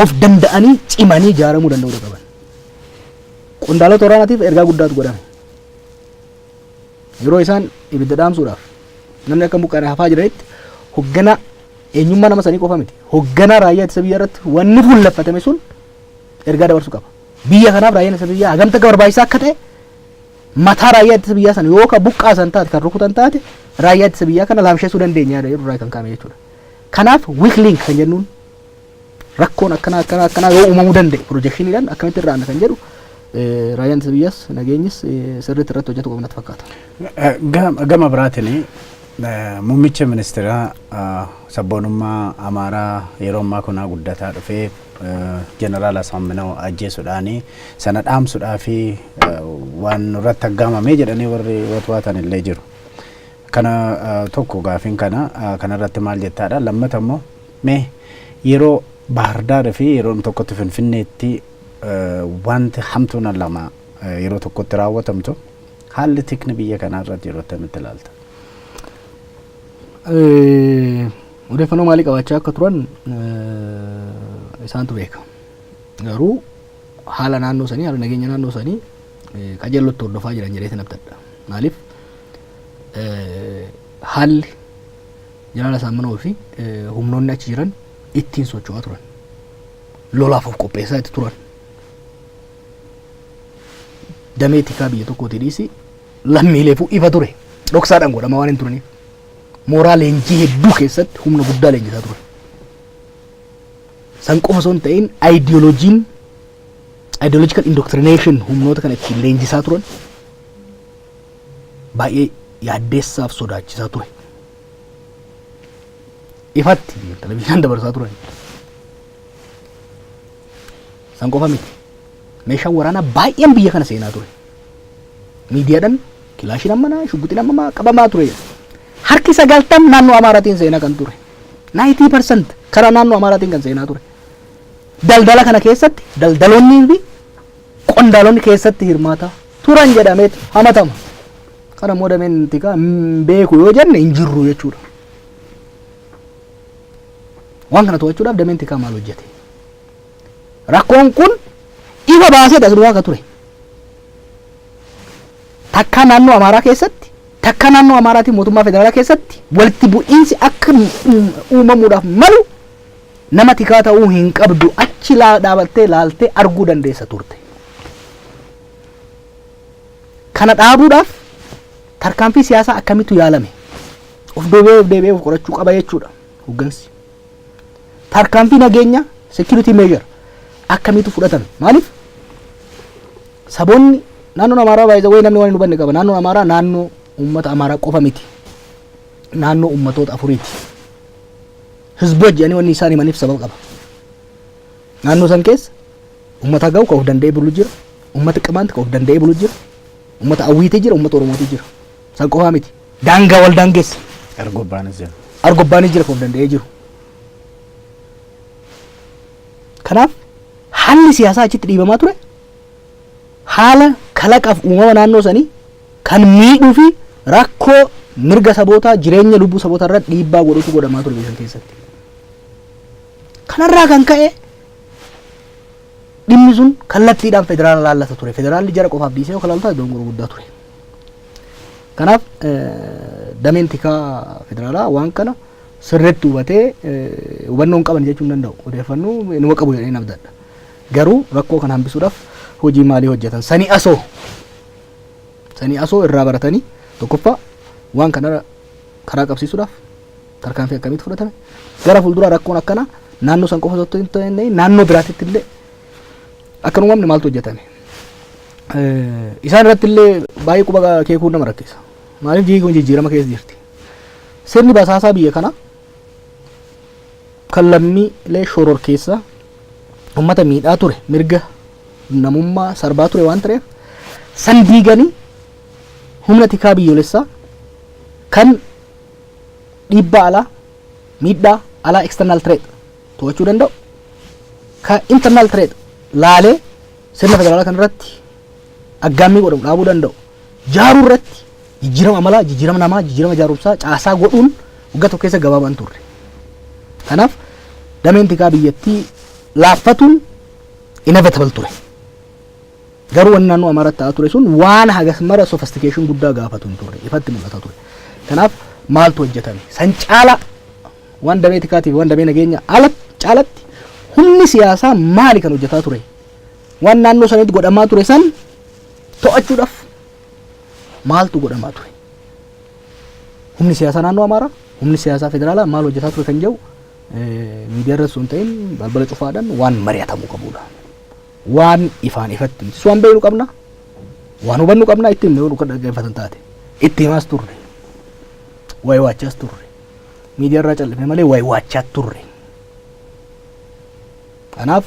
of danda'anii cimanii ijaaramuu danda'uu qaban. Qondaalota waraanaatiif ergaa guddaatu godhame. Yeroo isaan ibidda dhaamsuudhaaf namni akka mukaana hafaa jiranitti hogganaa eenyummaa nama sanii qofa miti. Hogganaa raayyaa ittisa biyyaa irratti wanni fuulleffatame sun ergaa dabarsuu qaba. Biyya kanaaf raayyaan ittisa biyyaa hagamta akka barbaachisaa akka ta'e mataa raayyaa ittisa biyyaa sana yoo ka buqqaasan taate kan rukutan taate raayyaa ittisa biyyaa kana laamsheessuu dandeenya yaada jedhu irraa kan kaa'ame jechuudha. Kanaaf weak link kan jennuun rakkoon akkanaa akkanaa akkanaa yoo uumamuu danda'e pirojekshiniidhaan akkamitti irraa aanna kan jedhu eh, raayyaan ittisa biyyaas nageenyis eh, sirriitti irratti hojjetu qabna natti fakkaata. Eh, gam- Gama biraatiin eh, muummicha ministeeraa eh, sabboonummaa Amaaraa yeroo ammaa kunaa guddataa dhufee Jeneraal Asaamminaw ajjeesudhaan sana dhaamsudhaa fi waan nurratti aggaamamee jedhanii warri watwaatan illee jiru. Kana tokko gaafiin kana kanarratti maal jettaadha lammata immoo mee yeroo Baahirdaar fi yeroon tokkotti Finfinneetti wanti hamtuun lama yeroo tokkotti raawwatamtu haalli tikni biyya kanaa irratti yeroo akkamitti ilaalta? Odeeffannoo maalii qabaachaa akka turan isaantu beeka. Garuu haala naannoo sanii, haala nageenya naannoo sanii qajeellotti hordofaa jiran jedhee sin abdadha. Maaliif haalli jalaala saammanoo fi humnoonni achi jiran ittiin socho'aa turan. Lolaaf of qopheessaa itti turan. Damee tikaa biyya tokkootii dhiisi lammiileefuu ifa ture. Dhoksaadhaan godhama waan hin turaniif. mooraa leenjii hedduu keessatti humna guddaa leenjisaa ture. San qofa osoo hin ta'in ideologiin ideological indoctrination humnoota kana ittiin leenjisaa turan baay'ee yaaddeessaaf sodaachisaa ture. Ifatti televizyiinaan dabarsaa turan. San qofa miti. Meeshaan waraanaa baay'een biyya kana seenaa ture. Miidiyaadhaan Kilaashiin ammanaa, shugguxiin ammamaa qabamaa ture. Harki 90 naannoo Amaaraatiin seenaa kan ture. 90% karaa naannoo Amaaraatiin kan seenaa ture. Daldala kana keessatti daldaloonnii fi qondaalonni keessatti hirmaataa turan jedhameet hamatama. Kana immoo dameen tikaa hin beeku yoo jenne hin jirru jechuudha. Waan kana to'achuudhaaf dameen tikaa maal hojjete? Rakkoon kun ifa baaseeti as dhugaa ka ture. Takkaa naannoo Amaaraa keessatti, takkaa naannoo Amaaraatiin mootummaa federaalaa keessatti walitti bu'iinsi akka uumamuudhaaf malu nama tikaa ta'uu hin qabdu achi laa dhaabattee laaltee arguu dandeessa turte. Kana dhaabuudhaaf tarkaanfii siyaasaa akkamittu yaalame? Of deebi'ee of deebi'ee of qorachuu qaba jechuudha hoggansi. tarkaanfii nageenyaa security measure akkamiitu fudhatame maaliif saboonni naannoon amaaraa baay'ee wayii namni waan hin hubanne qaba naannoon amaaraa naannoo uummata amaaraa qofa miti naannoo uummatoota afuriiti hizboo jedhanii wanni isaan himaniif sababa qaba naannoo san keessa uummata gahu kan of danda'ee bulu jira uummata qimaanti kan of danda'ee bulu jira uummata awwiitii jira uummata oromootii jira San qofaa miti. Daangaa wal daangessa. Argobbaanis jira. Argobbaanis jira kan danda'ee jiru. Kanaaf haalli siyaasaa achitti dhiibamaa ture haala kalaqaaf uumama naannoo sanii kan miidhuu fi rakkoo mirga sabootaa jireenya lubbuu sabootaa irratti dhiibbaa godhutu godhamaa ture biyya keessatti. Kanarraa kan ka'e dhimmi sun kallattiidhaan federaalaa laallata ture. Federaalli jara qofaaf dhiisee yoo kalaaltaa iddoon gurguddaa ture. Kanaaf dameen tikaa federaalaa waan kana sirriitti hubatee hubannoon qaban jechuu hin danda'u. Odeeffannoo inuma qabu jedhee nabdadha. Garuu rakkoo kana hambisuudhaaf hojii maalii hojjetan? Sanii asoo sanii asoo irraa baratanii tokkoffaa waan kana karaa qabsiisuudhaaf tarkaanfii akkamitti fudhatame? Gara fuulduraa rakkoon akkanaa naannoo san qofa osoo hin ta'in naannoo biraatitti illee akka hin uumamne maaltu hojjetame? Isaan irratti illee baay'ee quba keekuun nama rakkisa. Maaliif biyyi kun jijjiirama keessa jirti. Sirni basaasaa biyya kana kan lammiilee shoror keessa uummata miidhaa ture mirga namummaa sarbaa ture waan ta'eef san diiganii humna tikaa biyyoolessaa kan dhiibbaa alaa miidhaa alaa external threat to'achuu danda'u ka internal threat laalee Sirna federaalaa kana irratti aggaammii godhamu dhaabuu danda'u jaaruu irratti jijjiirama amalaa, jijjiirama namaa, jijjiirama jaarumsaa, caasaa godhuun waggaa tokko keessa gabaabaa hin turre. Kanaaf dameen tikaa biyyattii laaffatuun inevitable ture. Garuu wanni naannoo Amaaraatti ta'aa ture sun waan hagas mara sophistication guddaa gaafatu hin turre. Ifatti mul'ata ture. Kanaaf maaltu hojjetame? San caala Waan damee tikaatii fi waan damee nageenya alatti caalatti humni siyaasaa maali kan hojjetaa ture? Waan naannoo sanitti godhamaa ture san to'achuudhaaf maaltu godhamaa ture? Humni siyaasaa naannoo Amaaraa, humni siyaasaa federaalaa maal hojjetaa ture kan jedhu miidiyaa irratti sun ta'in balbala cufaadhaan waan mari'atamuu qabudha. Waan ifaan ifatti miti. Waan beeknu qabna, waan hubannu qabna, itti himne yoo dhaggeeffatan taate. Itti himaas turre, waa'ee waachaas turre. miidiyaa irraa cal'ifne malee wayi waachaa turre. Kanaaf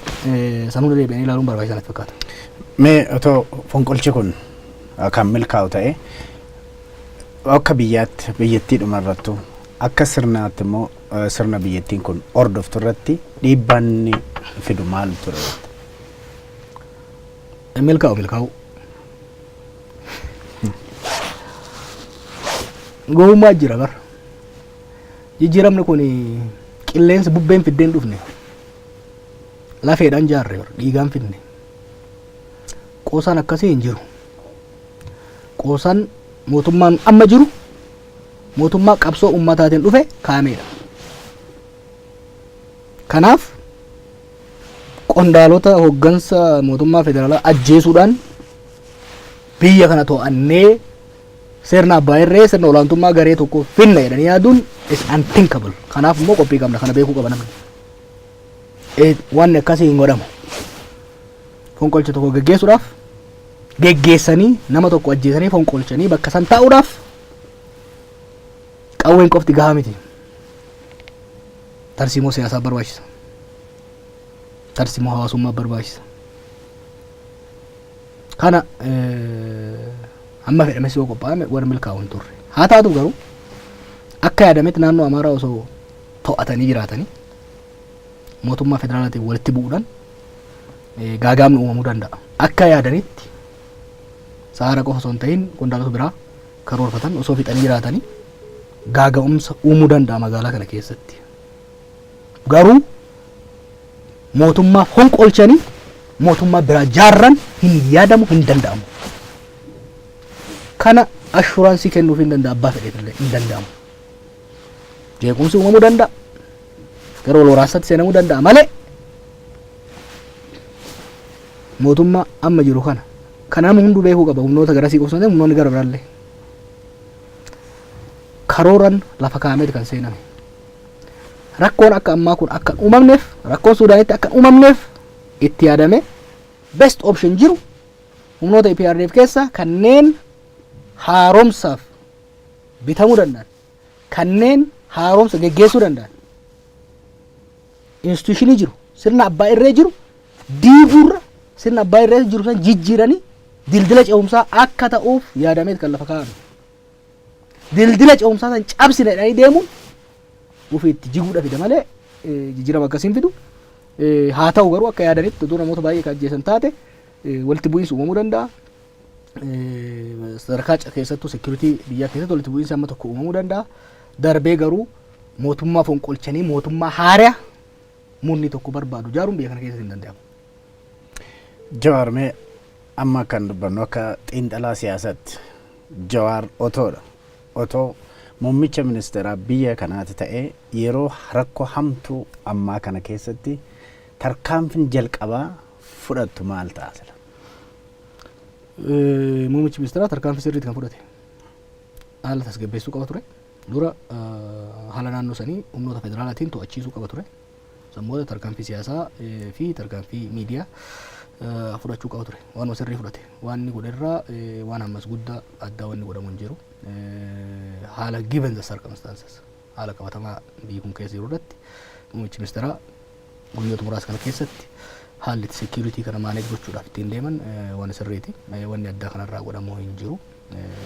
sanuun deebi'anii ilaaluun barbaachisaa natti fakkaata. Mee otoo fonqolchi kun kan milkaa'u ta'e akka biyyaatti biyyattii dhuma irrattu akka sirnaatti immoo sirna biyyattiin kun hordoftu irratti dhiibbaan inni fidu maal ture? Milkaa'u milkaa'u. Gowwummaa jira bar. Jijjiiramni kun qilleensi bubbeen fiddeen dhufne. Lafeedhaan jaarre bar dhiigaan fidne. Qoosaan akkasii hin jiru. Qoosaan mootummaan amma jiru mootummaa qabsoo ummataatiin dhufe kaameedha. Kanaaf qondaalota hoggansa mootummaa federaalaa ajjeesuudhaan biyya kana to'annee sirna abbaa irree sirna olaantummaa garee tokko finna jedhanii yaaduun is unthinkable. Kanaaf immoo qophii qabna kana beekuu qaba namni. Eh, Wanni akkasii hin godhamu. Fonqolcha tokko geggeessuudhaaf geggeessanii nama tokko ajjeesanii fonqolchanii bakka san taa'uudhaaf qawween qofti gahaa miti. Tarsiimoo siyaasaa barbaachisa. Tarsiimoo hawaasummaa barbaachisa. Kana amma fedhames yoo qophaa'ame warri milkaa'u hin turre. Haa taatu garuu akka yaadametti naannoo Amaaraa osoo to'atanii jiraatanii mootummaa federaalaatiin walitti bu'uudhaan gaagaamni uumamuu danda'a. Akka yaadanitti sa'aara qofa osoo hin ta'in qondaalota biraa karoorfatan osoo fixanii jiraatanii gaaga'umsa uumuu danda'a magaalaa kana keessatti. Garuu mootummaa fonqolchanii mootummaa biraa jaarran hin yaadamu hin danda'amu. Kana ashuraansii kennuuf hin danda'a abbaa fedheef illee hin danda'amu. jeequmsi uumamuu danda'a gara wal waraansaatti seenamuu danda'a malee mootummaa amma jiru kana kan nama hunduu beekuu qaba humnoota garasii qofsatee humnoonni gara biraallee karooran lafa kaa'ameeti kan seename rakkoon akka ammaa kun akka hin uumamneef rakkoon suudaanitti akka hin uumamneef itti yaadame best option jiru humnoota EPRDF keessaa kanneen haaromsaaf bitamuu danda'an kanneen haaromsa geggeessuu danda'an instituushinii jiru sirna abbaa irree jiru diiguurra sirna abbaa irree jiru san jijjiiranii dildila ce'umsaa akka ta'uuf yaadameet kan lafa kaa'ame. Dildila ce'umsaa san cabsine jedhanii deemuun ofii itti jiguudha fida malee jijjiirama akkasiin fidu. Haa ta'u garuu akka yaadanitti utuu namoota baay'ee kan ajjeesan taate walitti bu'iinsi uumamuu danda'a. Sadarkaa ca- keessattuu security biyyaa keessatti walitti bu'iinsi amma tokko uumamuu danda'a. Darbee garuu mootummaa fonqolchanii mootummaa haaraa murni tokko barbaadu ijaaruun biyya kana keessatti hin danda'amu. Jawaar mee amma kan dubbannu akka xiinxalaa siyaasaatti Jawaar otoodha. Otoo muummicha ministeeraa biyya kanaati ta'ee yeroo rakkoo hamtuu ammaa kana keessatti tarkaanfiin jalqabaa fudhattu maal ta'a sila? Muummichi ministeeraa tarkaanfii sirriitti kan fudhate haala tasgabbeessuu qaba ture. Dura haala naannoo sanii humnoota federaalaatiin to'achiisuu qaba ture. Sammoota tarkaanfii siyaasaa fi tarkaanfii miidiyaa fudhachuu qaba ture. Waan sirrii fudhate. Waan inni godherraa waan ammas guddaa addaa wanni godhamu hin jiru. Haala given the circumstances. Haala qabatamaa biyyi kun keessa jiru irratti muummichi ministeeraa guyyoota muraasa kana keessatti haalli itti security kana manage gochuudhaaf ittiin deeman waan sirriiti. Wanni addaa kanarraa godhamu hin jiru.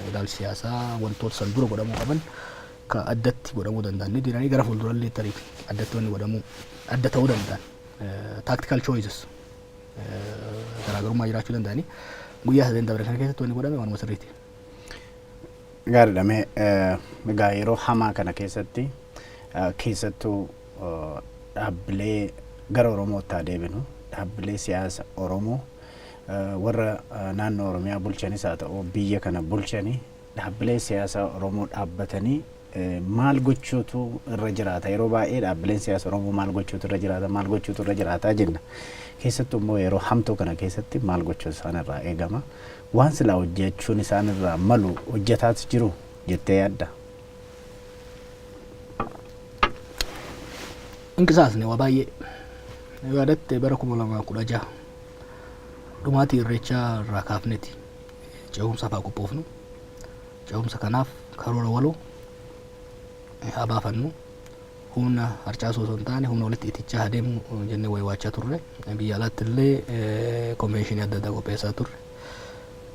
Ilaalchi siyaasaa wantoota san dura godhamuu qaban ka addatti godhamuu danda'an ni jiranii gara fuuldurallee tarii addatti wanni godhamuu adda ta'uu danda'an tactical choices garaagarummaa jiraachuu danda'anii guyyaa sadeen dabre kana keessatti wanni godhame waanuma sirriiti. Gaariidha mee egaa yeroo hamaa kana keessatti keessattuu dhaabbilee gara Oromootti haa deebinu dhaabbilee siyaasa Oromoo warra naannoo Oromiyaa bulchanis haa ta'u biyya kana bulchani dhaabbilee siyaasaa Oromoo dhaabbatanii maal gochuutu irra jiraata? Yeroo baay'ee dhaabbileen siyaasa Oromoo maal gochuutu irra jiraata? Maal gochuutu irra jiraata jenna. Keessattuu immoo yeroo hamtuu kana keessatti maal gochuutu isaan irraa eegama? Waan silaa hojjechuun isaan irraa malu hojjetaas jiru jettee yaadda? Hin qisaasne waa baay'ee. Yaadatte bara kuma lamaa kudha jaha dhumaatii irreechaa irraa kaafneeti ce'umsaaf haa qophoofnu. Ce'umsa kanaaf karoora waloo haa baafannu. Humna harcaasuu osoo hin taane humna walitti itichaa haa deemnu jennee waywaachaa turre. Biyya alaatti illee konveenshinii adda addaa qopheessaa turre.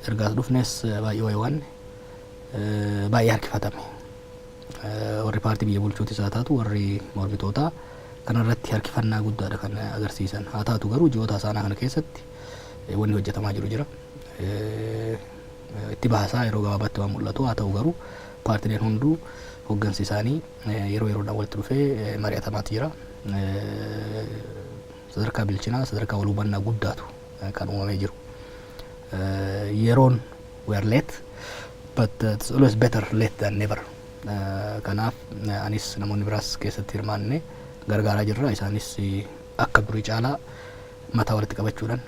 Ergaas dhufnes baay'ee waywaanne. Baay'ee harkifatame. Warri paartii biyya bulchuutis haa taatu warri mormitootaa kanarratti harkifannaa guddaadha kan agarsiisan. Haa taatu garuu ji'oota hasaanaa kana keessatti wanni hojjetamaa jiru jira. itti bahasaa yeroo gabaabaatti waan mul'atu haa ta'u garuu paartileen hunduu hoggansi isaanii yeroo yeroodhaan walitti dhufee mari'atamaati jira. Sadarkaa bilchinaa sadarkaa wal hubannaa guddaatu kan uumamee jiru. Yeroon we are late but uh, it's always better late than never. Uh, kanaaf uh, anis namoonni biraas keessatti hirmaanne gargaaraa jirra isaanis uh, akka durii caalaa mataa walitti qabachuudhaan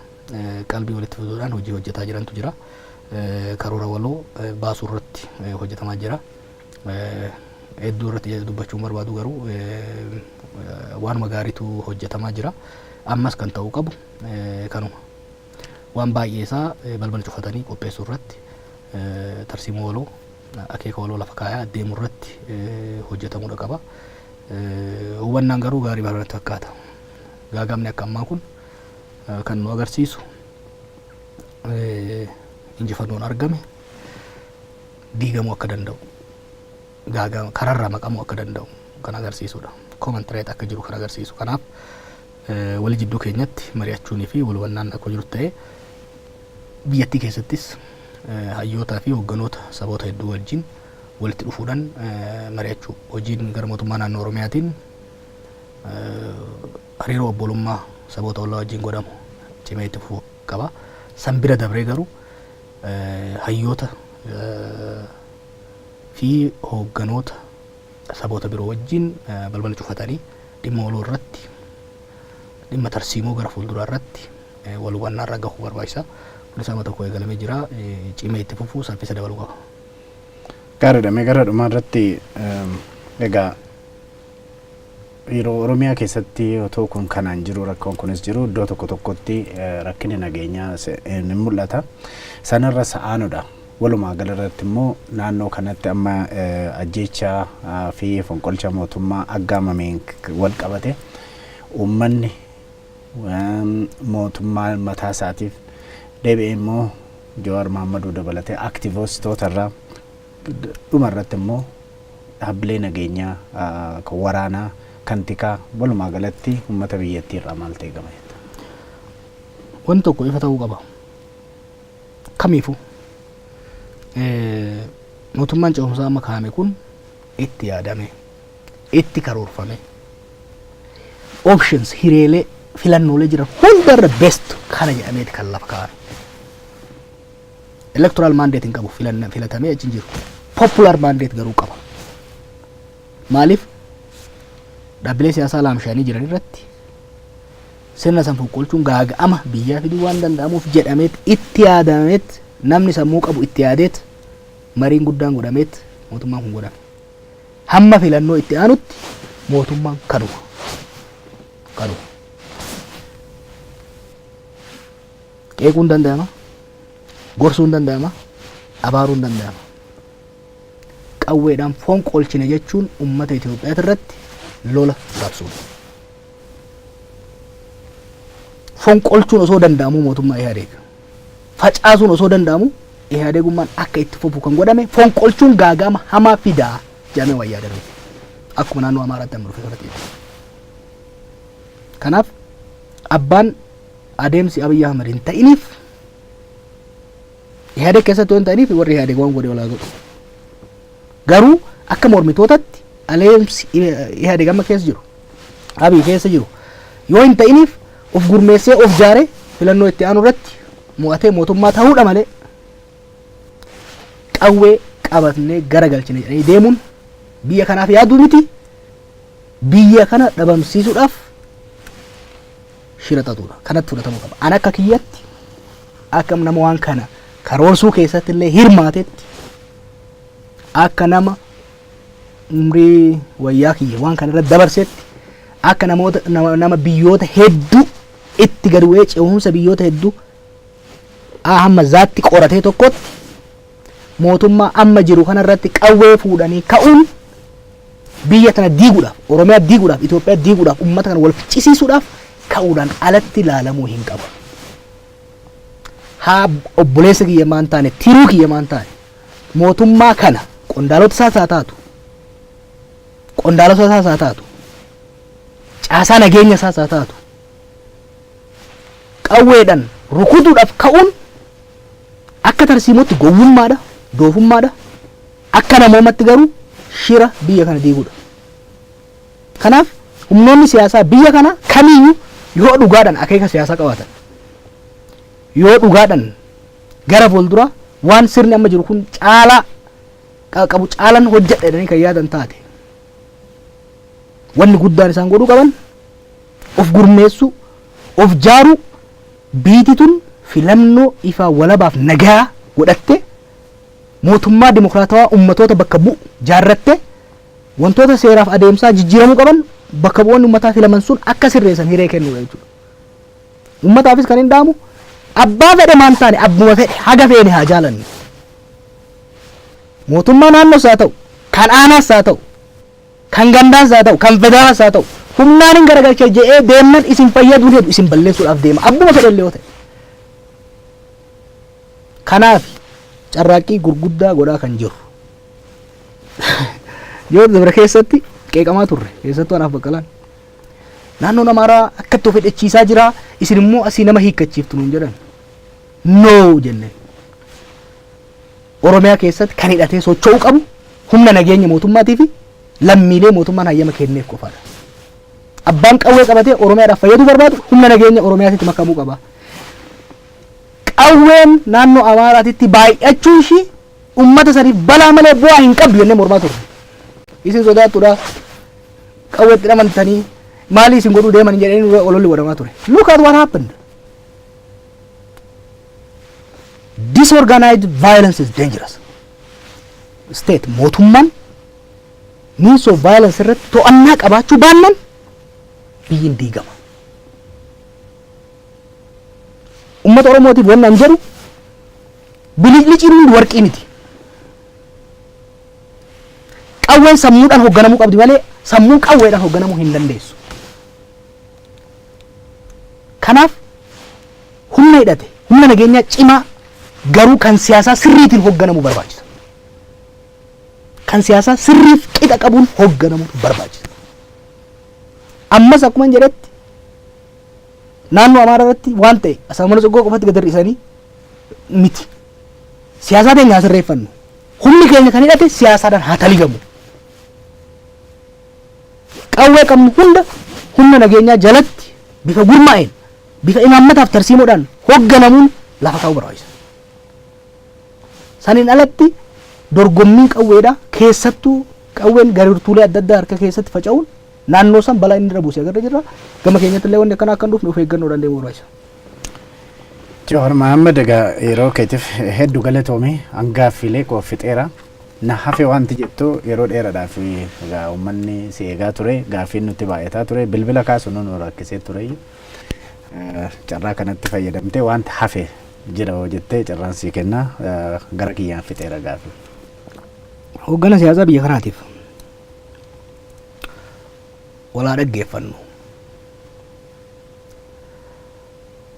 qalbii walitti fiduudhaan hojii hojjetaa jirantu jira. Karoora waloo baasuu irratti hojjetamaa jira. Hedduu irratti dubbachuun barbaadu garuu waanuma gaariitu hojjetamaa jira. Ammas kan ta'uu qabu kanuma. Waan baay'ee isaa balbala cufatanii qopheessuu irratti tarsiimoo waloo akeeka waloo lafa kaayaa deemu irratti hojjetamudha qaba. Hubannaan garuu gaarii baranatti fakkaata. Gaagaamni akka ammaa kun kan nu agarsiisu injifannoon argame diigamuu akka danda'u gaagama kararraa maqamuu akka danda'u kan agarsiisudha. Comment rate akka jiru kan agarsiisu. Kanaaf wal jidduu keenyatti mari'achuunii fi wal hubannaan akka jiru ta'ee biyyattii keessattis hayyootaa fi hoogganoota saboota hedduu wajjin walitti dhufuudhaan mari'achuu hojiin gara mootummaa naannoo Oromiyaatiin Hariiroo obbolummaa saboota ollaa wajjin godhamu cimee itti fufuu qaba. San bira dabree garuu hayyoota fi hoogganoota saboota biroo wajjin balbala cufatanii dhimma waloo irratti dhimma tarsiimoo gara fuulduraa irratti wal hubannaa irra gahuu barbaachisa. Kunis amma tokko eegalamee jira. Cimee itti fufuu saffisa dabaluu qaba. Gaariidha. Mee gara dhumaa irratti egaa Yeroo Oromiyaa keessatti otoo kun kanaan jiru rakkoon kunis jiru iddoo tokko tokkotti rakkinni nageenyaa ni mul'ata. Sanarra sa'aanudha. Walumaa galarratti immoo naannoo kanatti amma ajjeechaa fi fonqolcha mootummaa aggaamameen wal qabate uummanni mootummaa mataa isaatiif deebi'ee immoo Jawaar Maammaduu dabalatee aktiivistootarraa Dhuma irratti immoo dhaabbilee nageenyaa, kan waraanaa, kan tikaa walumaa galatti uummata biyyattii irraa maaltu eegama jetta? Wanti tokko ifa ta'uu qaba. Kamiifuu mootummaan ce'umsaa amma kaa'ame kun itti yaadamee, itti karoorfamee, options hireelee filannoolee jiran hundarra best kana jedhameeti kan lafa kaa'ame. Electoral mandate hin qabu filanna filatamee achi hin jiru. Popular mandate garuu qaba. Maaliif dhaabbilee siyaasaa laamshaanii jiran irratti sirna san fonqolchuun gaaga'ama biyyaa fiduu waan danda'amuuf jedhameet itti yaadameet namni sammuu qabu itti yaadeet mariin guddaan godhameet mootummaan kun godhame. Hamma filannoo itti aanutti mootummaan kanuma. Kanuma. Qeequun danda'ama, gorsuun danda'ama, abaaruun danda'ama. Qawweedhaan foon qolchine jechuun uummata Itoophiyaa irratti lola labsuudha. Foon qolchuun osoo danda'amu mootummaa Ihaadeeg. Facaasuun osoo danda'amu Ihaadeegummaan akka itti fufu kan godhame foon qolchuun gaaga'ama hamaa fidaa jedhamee waan yaadame. Akkuma naannoo Amaaraatti amma dhufe kanatti. Kanaaf abbaan adeemsi Abiy Ahmed hin ta'iniif Ihadeg keessatti waan ta'aniif warri Ihadeg waan godhe walaa godhu. Garuu akka mormitootatti adeemsi Ihadeg amma keessa jiru Abiy keessa jiru yoo hin ta'iniif of gurmeessee of jaaree filannoo itti aanu irratti mo'atee mootummaa ta'uudha malee qawwee qabatnee gara galchine jedhanii deemuun biyya kanaaf yaaduu miti biyya kana dhabamsiisuudhaaf shira xaxuudha. Kanatti fudhatamuu qaba. An akka kiyyatti akka nama waan kana karoorsuu keessatti illee hirmaatetti akka nama umrii wayyaa kiyya waan kana irratti dabarsetti akka namoota nama, nama biyyoota hedduu itti gad bu'ee ce'umsa biyyoota hedduu A hamma zaatti qoratee tokkotti mootummaa amma jiru kanarratti qawwee fuudhanii ka'uun biyya tana diiguudhaaf, Oromiyaa diiguudhaaf, Itoophiyaa diiguudhaaf, uummata kana wal ficcisiisuudhaaf ka'uudhaan alatti ilaalamuu hin qabu. Haa obboleessa kiyya maan taane, tiruu kiyya maan taane, mootummaa kana qondaalota isaas haa taatu, qondaalota isaas haa taatu, caasaa nageenya isaas haa taatu, qawweedhan rukutuudhaf ka'uun akka tarsiimootti gowwummaadha, doofummaadha, akka namoomatti garuu shira biyya kana diiguudha. Kanaaf humnoonni siyaasaa biyya kanaa kamiiyyuu yoo dhugaadhan akeeka siyaasaa qabaatan, yoo dhugaadhan gara fuulduraa waan sirni amma jiru kun caalaa qaqqabu caalan hojjedha jedhanii kan yaadan taate wanni guddaan isaan godhuu qaban Of gurmeessuu, of jaaruu, biyti tun filannoo ifaa walabaaf nagayaa godhattee, mootummaa demokraatawaa ummatoota bakka bu'u jaarrattee, wantoota seeraaf adeemsaa jijjiiramuu qaban bakka bu'oonni ummataa filaman sun akka sirreessan hiree kennuu dha jechuudha. Ummataafis kan hin dhaamu abbaa fedhe maan taane abbuma fedhe haga feene haa jaalannu. Mootummaa naannoos haa ta'u, kan aanaas haa ta'u, Kan gandaas haa ta'u, kan federaalas haa ta'u, humnaanin garagalcha jedhee deemnan isin fayyaduu hin hedu, isin balleessuudhaaf deema, abbuma fedhe illee yoo ta'e. Kanaafi, carraaqqii gurguddaa godhaa kan jirru. Yoo dabre keessatti qeeqamaa turre, keessattuu anaaf baqqalaan. Naannoon Amaaraa akkatti of hidhachiisaa jira, isin immoo asii nama hiikkachiiftu nuun jedhan. No jenneen. Oromiyaa keessatti kan hidhatee socho'uu qabu humna nageenya mootummaatii fi lammiilee mootummaan hayyama kenneef qofaadha. Abbaan qawwee qabatee Oromiyaadhaaf fayyaduu barbaadu humna nageenya Oromiyaatitti makamuu qaba. Qawween naannoo Amaaraatitti baay'achuu ishii uummata saniif balaa malee bu'aa hin qabdu jennee mormaa turre. Isin sodaattudha. Qawweetti dhamantanii maalii isin godhuu deeman jedhanii ololli godhamaa ture. Look at what happened. disorganized violence is dangerous state mootummaan means of violence irratti to'annaa qabaachuu baannan biyyiin diigama ummata oromootiif wanni an jedhu bilicliciin hundi warqii miti qawween sammuudhaan hogganamuu qabdi malee sammuun qawweedhaan hogganamuu hin dandeessu Kanaaf humna hidhate, humna nageenyaa cimaa garuu kan siyaasaa sirriitiin hogganamu barbaachisa. Kan siyaasaa sirriif qixa qabuun hogganamutu barbaachisa. Ammas akkuma hin jedhetti naannoo Amaaraa irratti waan ta'e Asaamala Tsoggoo qofatti gad hir'isanii miti. Siyaasaa keenya haa sirreeffannu. Humni keenya kan hidhate siyaasaadhaan haa taligamu. Qawwee qabnu hunda humna nageenyaa jalatti bifa gurmaa'een, bifa imaammata fi tarsiimoodhaan hogganamuun lafa kaa'uu barbaachisa. Saniin alatti dorgommiin qawweedhaa keessattuu qawween garirtuulee adda addaa harka keessatti faca'uun naannoo san balaa inni irra buuse agarra jirra. Gama keenyatti illee wanni akkanaa akka hin dhufne of eeggannoodhaan deemuu barbaachisa. Jawaar Mahaammad egaa yeroo keetif heddu galatoomi an gaaffiilee koo fixeera na hafe wanti jettu yeroo dheeradhaaf egaa ummanni si eegaa ture gaaffiin nutti baay'ataa ture bilbila kaasunu nu rakkisee ture carraa kanatti fayyadamtee wanti hafe jira hoo jettee carraan sii kenna gara kiyyaan fixeera gaaffii. Hooggana siyaasaa biyya kanaatiif walaa dhaggeeffannu.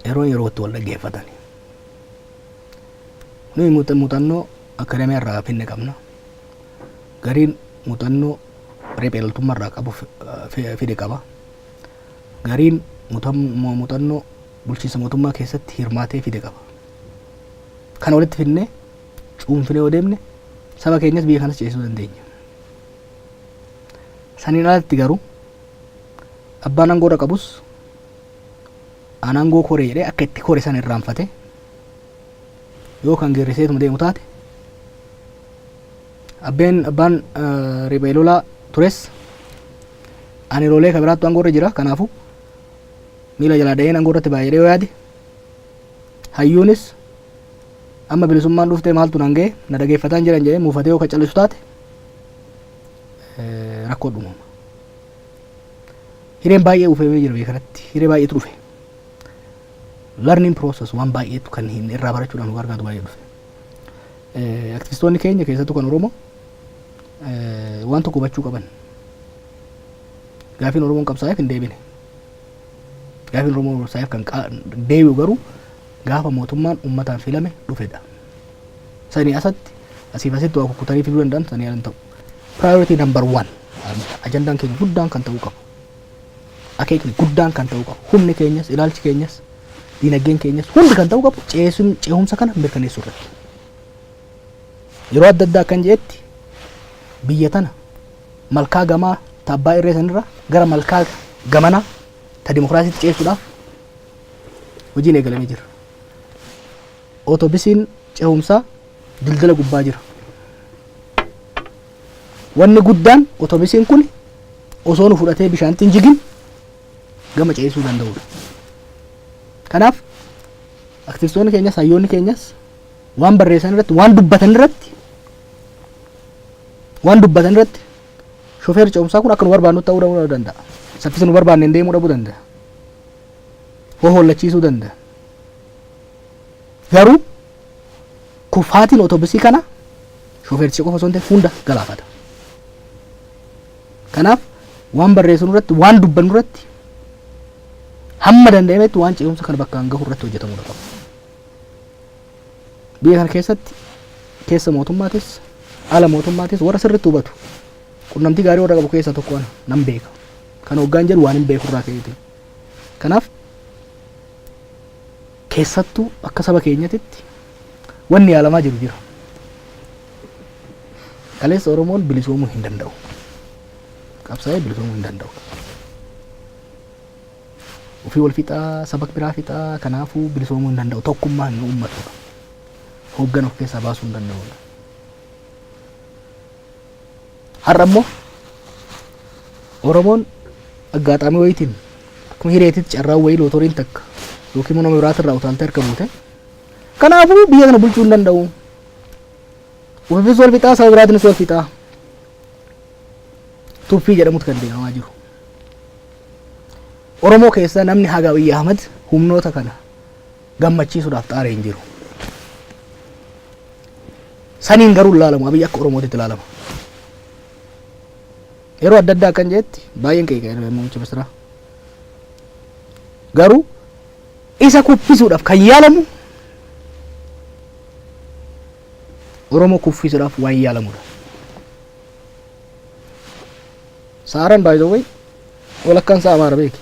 yeroo yerootti wal dhaggeeffatani. Nuyi muuxannoo akadamiyaa irraa finne qabna. Gariin muuxannoo riphee loltummaa irraa qabu fide qaba. Gariin muuxannoo bulchiinsa mootummaa keessatti hirmaatee fide qaba. Kana walitti finnee cuunfinee yoo deemne saba keenyas biyya kanas ceesisuu dandeenya. Saniin alatti garuu Abbaan aangoo irra qabus an aangoo kore jedhee akka itti kore san irraanfate yoo kan geerriseetuma deemu taate abbeen abbaan riphee lolaa tures ani loolee ka biraattu aangoo irra jira kanaafu miila jalaa da'een aangoo irratti baay'ee yoo yaade hayyuunis amma bilisummaan dhuftee maaltu naan ga'e na dhageeffataan jiran jedhee muufatee yoo ka callisu taate rakkoo dhumama. Hireen baay'ee uufamee jira biyya kanatti. Hiree baay'eetu dhufe. Learning process waan baay'eetu kan hin irraa barachuudhaan barbaadu baay'ee dhufe. Eh, Aktivistoonni keenya keessattuu kan Oromoo eh, waan tokko hubachuu qaban. Gaafiin Oromoon qabsaa'eef hin deebine. Gaafiin Oromoon qabsaa'eef kan qa- deebi'u garuu gaafa mootummaan uummataan filame dhufedha. Sanii asatti asiif asitti waa kukkutanii fiduu danda'an sanii ala hin ta'u. Priority number one ajandaan keenya guddaan kan ta'uu qabu akeekni guddaan kan ta'uu qabu humni keenyas ilaalchi keenyas diinagdeen keenyas hundi kan ta'uu qabu ceesun- ceehumsa kana mirkaneessuu irratti yeroo adda addaa akkan jedhetti biyya tana malkaa gamaa ta abbaa irree sanirra gara malkaa gamanaa ta dimokiraasiitti ceessuudhaaf hojiin eegalamee jira. Otobisiin cehumsaa dildila gubbaa jira. Wanni guddaan otobisiin kun osoo nu fudhatee bishaanitti hin jigin gama ceesisuu danda'udha. Kanaaf aktivistoonni keenyas hayyoonni keenyas waan barreessan irratti waan dubbatan irratti waan dubbatan irratti shofeerri ce'umsaa kun akka nu barbaannu ta'uu dhabuu danda'a. Saffisa nu barbaanne hin deemuu dhabuu danda'a. Hohollachiisuu danda'a. Garuu kufaatiin otobusii kana shofeericha qofa osoo hin ta'in hunda galaafata. Kanaaf waan barreessinu irratti waan dubbannu irratti hamma danda'ametti waan ce'umsa kana bakkaan gahu irratti hojjetamuu qaba. Biyya kana keessatti keessa mootummaatis ala mootummaatis warra sirriitti hubatu qunnamtii gaarii warra qabu keessaa tokko ana nan beeka. Kan hoggaan jedhu waan hin beeku irraa ka'eeti. Kanaaf keessattuu akka saba keenyatitti wanni yaalamaa jiru jira. Kaleessa Oromoon bilisoomuu hin danda'u. Qabsaa'ee bilisoomuu hin danda'u. Ofii wal fixaa, saba biraa fixaa, kanaafuu bilisoomuu hin danda'u. Tokkummaa hin uummatu. Hooggan of keessaa baasuu hin danda'u. Har'a immoo Oromoon aggaataamii wayiitiin akkuma hireetitti carraan wayii lootoriin takka yookiin immoo nama biraatirraa utaaltee harka buute. Kanaafuu biyya kana bulchuu hin danda'u. Ofiifis wal fixaa saba biraatiinis wal fixaa. Tuffii jedhamutu kan deemamaa jiru. Oromoo keessaa namni haga Abiyyi Ahmad humnoota kana gammachiisuudhaaf xaare hin jiru. Saniin garuu hin laalamu. Abiy akka Oromootitti laalama. Yeroo adda addaa akkan jedhetti baay'een qeeqee muummicha ministeeraa. Garuu isa kuffisuudhaaf kan yaalamu Oromoo kuffisuudhaaf waan yaalamudha. Saaran baay'ee walakkaan isaa Amaara beeki.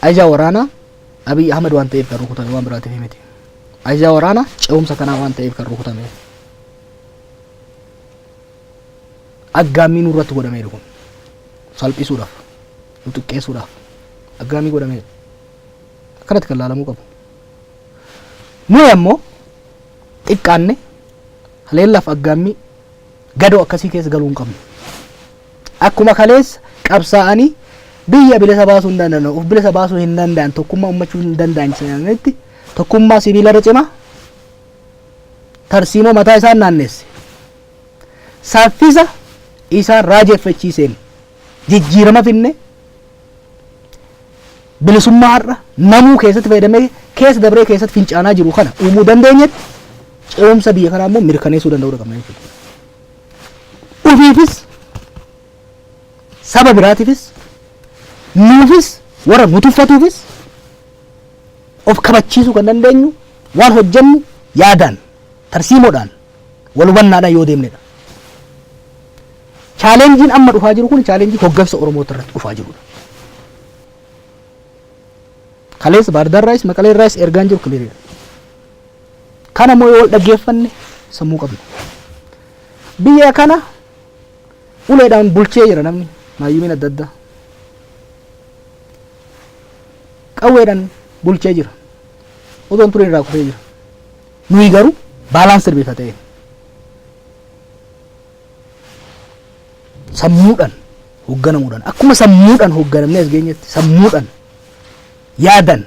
Ajaa waraanaa Abiy Ahmed waan ta'eef kan rukutame waan biraatiif miti. Ajaa waraanaa ce'umsa kanaa waan ta'eef kan rukutame. Aggaammii nurratti godhameedha kun. Salphisuudhaaf, nu xiqqeessuudhaaf aggaammii godhameedha. Akkanatti kan laalamuu qabu. Nuyi ammoo xiqqaanne haleellaaf aggaammii gadoo akkasii keessa galuu hin qabnu. Akkuma kaleessa qabsaa'anii biyya bilisa baasuu hin danda'an, of bilisa baasuu hin danda'an, tokkummaa ummachuu hin danda'an jedhanitti tokkummaa sibiila irra cimaa tarsiimoo mataa isaan naanneesse. Saffisa isaan raajeffachiiseen jijjiirama finne bilisummaa har'a namuu keessatti fayyadamee keessa dabree keessatti fincaanaa jiru kana uumuu dandeenyetti ce'umsa biyya kanaa immoo mirkaneessuu danda'uu qabna jechuudha. ufiifis saba biraatiifis nuufis warra nu tuffatuufis of kabachiisuu kan dandeenyu waan hojjennu yaadaan tarsiimoodhaan wal hubannaadhaan yoo deemnedha. Chaalenjiin amma dhufaa jiru kun chaalenjii hoggansa Oromoota irratti dhufaa jirudha. Kaleessa Baardaarraayis Maqaleerraayis ergaan jiru kiliiridha. Kana immoo yoo wal dhaggeeffanne sammuu qabna. Biyya kana uleedhaan bulchee jira namni maayyumiin adda addaa. Qawweedhaan bulchee jira. Odoon tureen irraa kufee jira. Nuyi garuu baalaansir bifa ta'een sammuudhaan hoogganamuudhaan akkuma sammuudhaan hoogganamnee as geenyetti sammuudhaan yaadan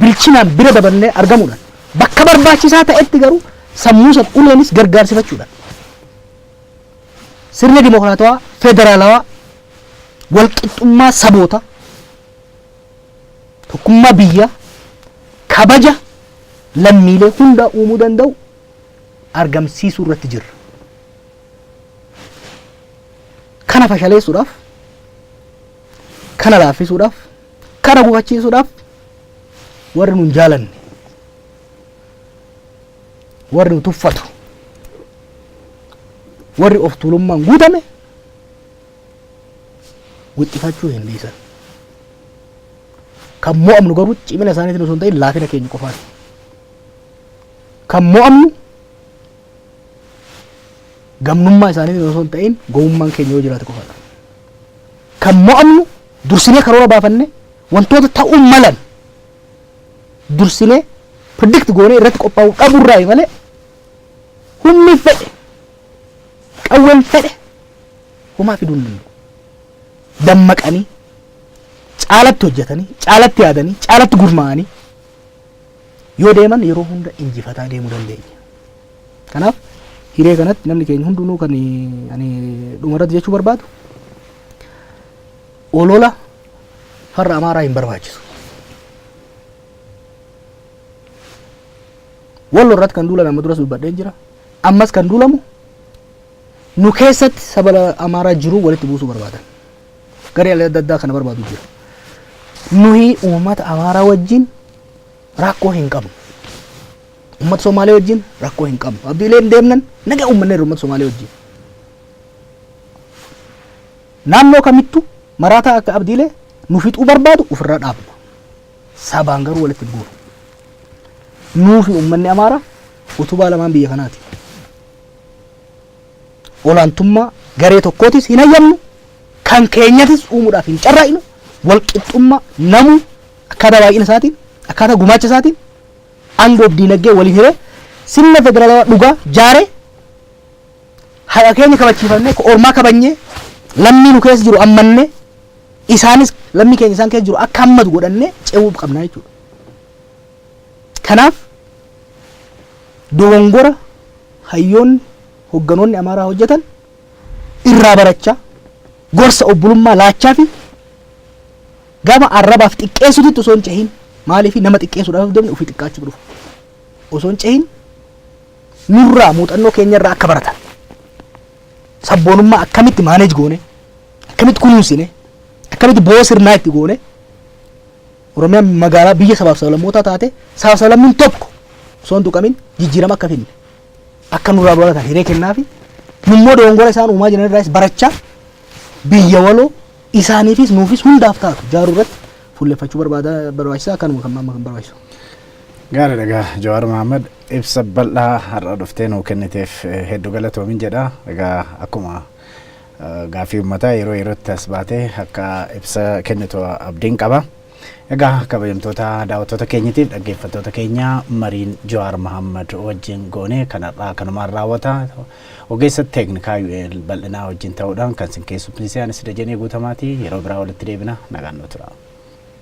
bilchinaan bira dabarnee argamuudhaan bakka barbaachisaa ta'etti garuu sammuu sana uleenis gargaarsifachuudhaan sirna dimokiraatawaa federaalawaa walqixxummaa saboota tokkummaa biyyaa kabaja lammiilee hundaa uumuu danda'u argamsiisuu irratti jirra. Kana fashaleessuudhaaf kana laaffisuudhaaf Kana gufachiisuudhaaf warri nun jaalanne, warri nu tuffatu, warri of tuulummaan guutame wixxifachuu hin dhiisan. Kan mo'amnu garuu cimina isaaniitiin osoo hin ta'in laafina keenya qofaan. Kan mo'amnu gamnummaa isaaniitiin osoo hin ta'in gowwummaan keenya yoo jiraate qofadha. Kan mo'amnu Dursinee karoora baafannee wantoota ta'uu malan dursinee predict goonee irratti qophaa'uu dhaburraayi malee humni fedhe qawween fedhe homaa fiduu hin danda'u. Dammaqanii caalatti hojjetanii caalatti yaadanii caalatti gurmaa'anii yoo deeman yeroo hunda injifataa deemuu dandeenya. Kanaaf hiree kanatti namni keenya hundinuu kan ani dhumarratti jechuu barbaadu olola farra amaaraa hin barbaachisu. Wallo irratti kan duulan amma duras dubbadheen jira. Ammas kan duulamu nu keessatti saba amaaraa jiru walitti buusuu barbaadan. Garee adda addaa kana barbaadu jira. Nuyi uummata amaaraa wajjin rakkoo hin qabnu. Uummata Somaalee wajjin rakkoo hin qabnu. Abdiileen deemnan nagaa uummanneerra uummata Somaalee wajjin. Naannoo kamittu maraataa akka Abdiile nu fixuu barbaadu ufirra dhaabna. Sabaan garuu walitti hin buunu. Nuufi ummanni Amaaraa utubaa lamaan biyya kanaati. Olaantummaa garee tokkootis hin hayyamnu, kan keenyatis uumuudhaaf hin carraaqnu, walqixxummaa namuu akkaataa baay'ina isaatiin, akkaataa gumaacha isaatiin aangoof diinaggee waliin hiree sirna federaalawaa dhugaa jaaree Haqa keenya kabachiifannee, ka ormaa kabajnee, lammii nu keessa jiru hammannee, isaanis lammii keenya isaan keessa jiru akka hammatu godhannee ce'uu qabna jechuudha. Kanaaf dogongora hayyoonni, hogganoonni Amaaraa hojjetan irraa barachaa, gorsa obbolummaa laachaa fi gama arrabaaf xiqqeessutitti osoo hin cehin maaliif nama xiqqeessuudhaaf deemne ofii xiqqaachuutu dhufa. Osoo hin cehin nurraa muuxannoo keenya irraa akka baratan sabboonummaa akkamitti maaneej goone akkamitti kunuunsine akkamitti boo sirnaa itti goone Oromiyaan magaalaa biyya sabaaf sablammootaa taate sabaaf sablammiin tokko osoo hin tuqamin jijjiirama akka finne akka nurraa baratan hiree kennaa fi nummoo doongora isaan uumaa jiran irraas barachaa biyya waloo isaaniifis nuufis hundaaf taatu jaaruu irratti fuulleffachuu barbaada barbaachisaa akkanuma kan maamma kan barbaachisu. Gaariidha gaa Jawaar Mahaammad Ibsa bal'aa har'a dhuftee nuu kenniteef heddu galatoomi jedha. Egaa akkuma gaaffii ummataa yeroo yerootti as baatee akka ibsa kennitu abdiin qaba. Egaa kabajamtoota daawwattoota keenyatiif dhaggeeffattoota keenya mariin Jawaar Mahammad wajjin goone kan har'aa kanumaan raawwata. Ogeessa teeknikaa UL bal'inaa wajjin ta'uudhaan kan sin keessummeesse anis Dajanee Guutamaati. Yeroo biraa walitti deebina nagaan nuu tura.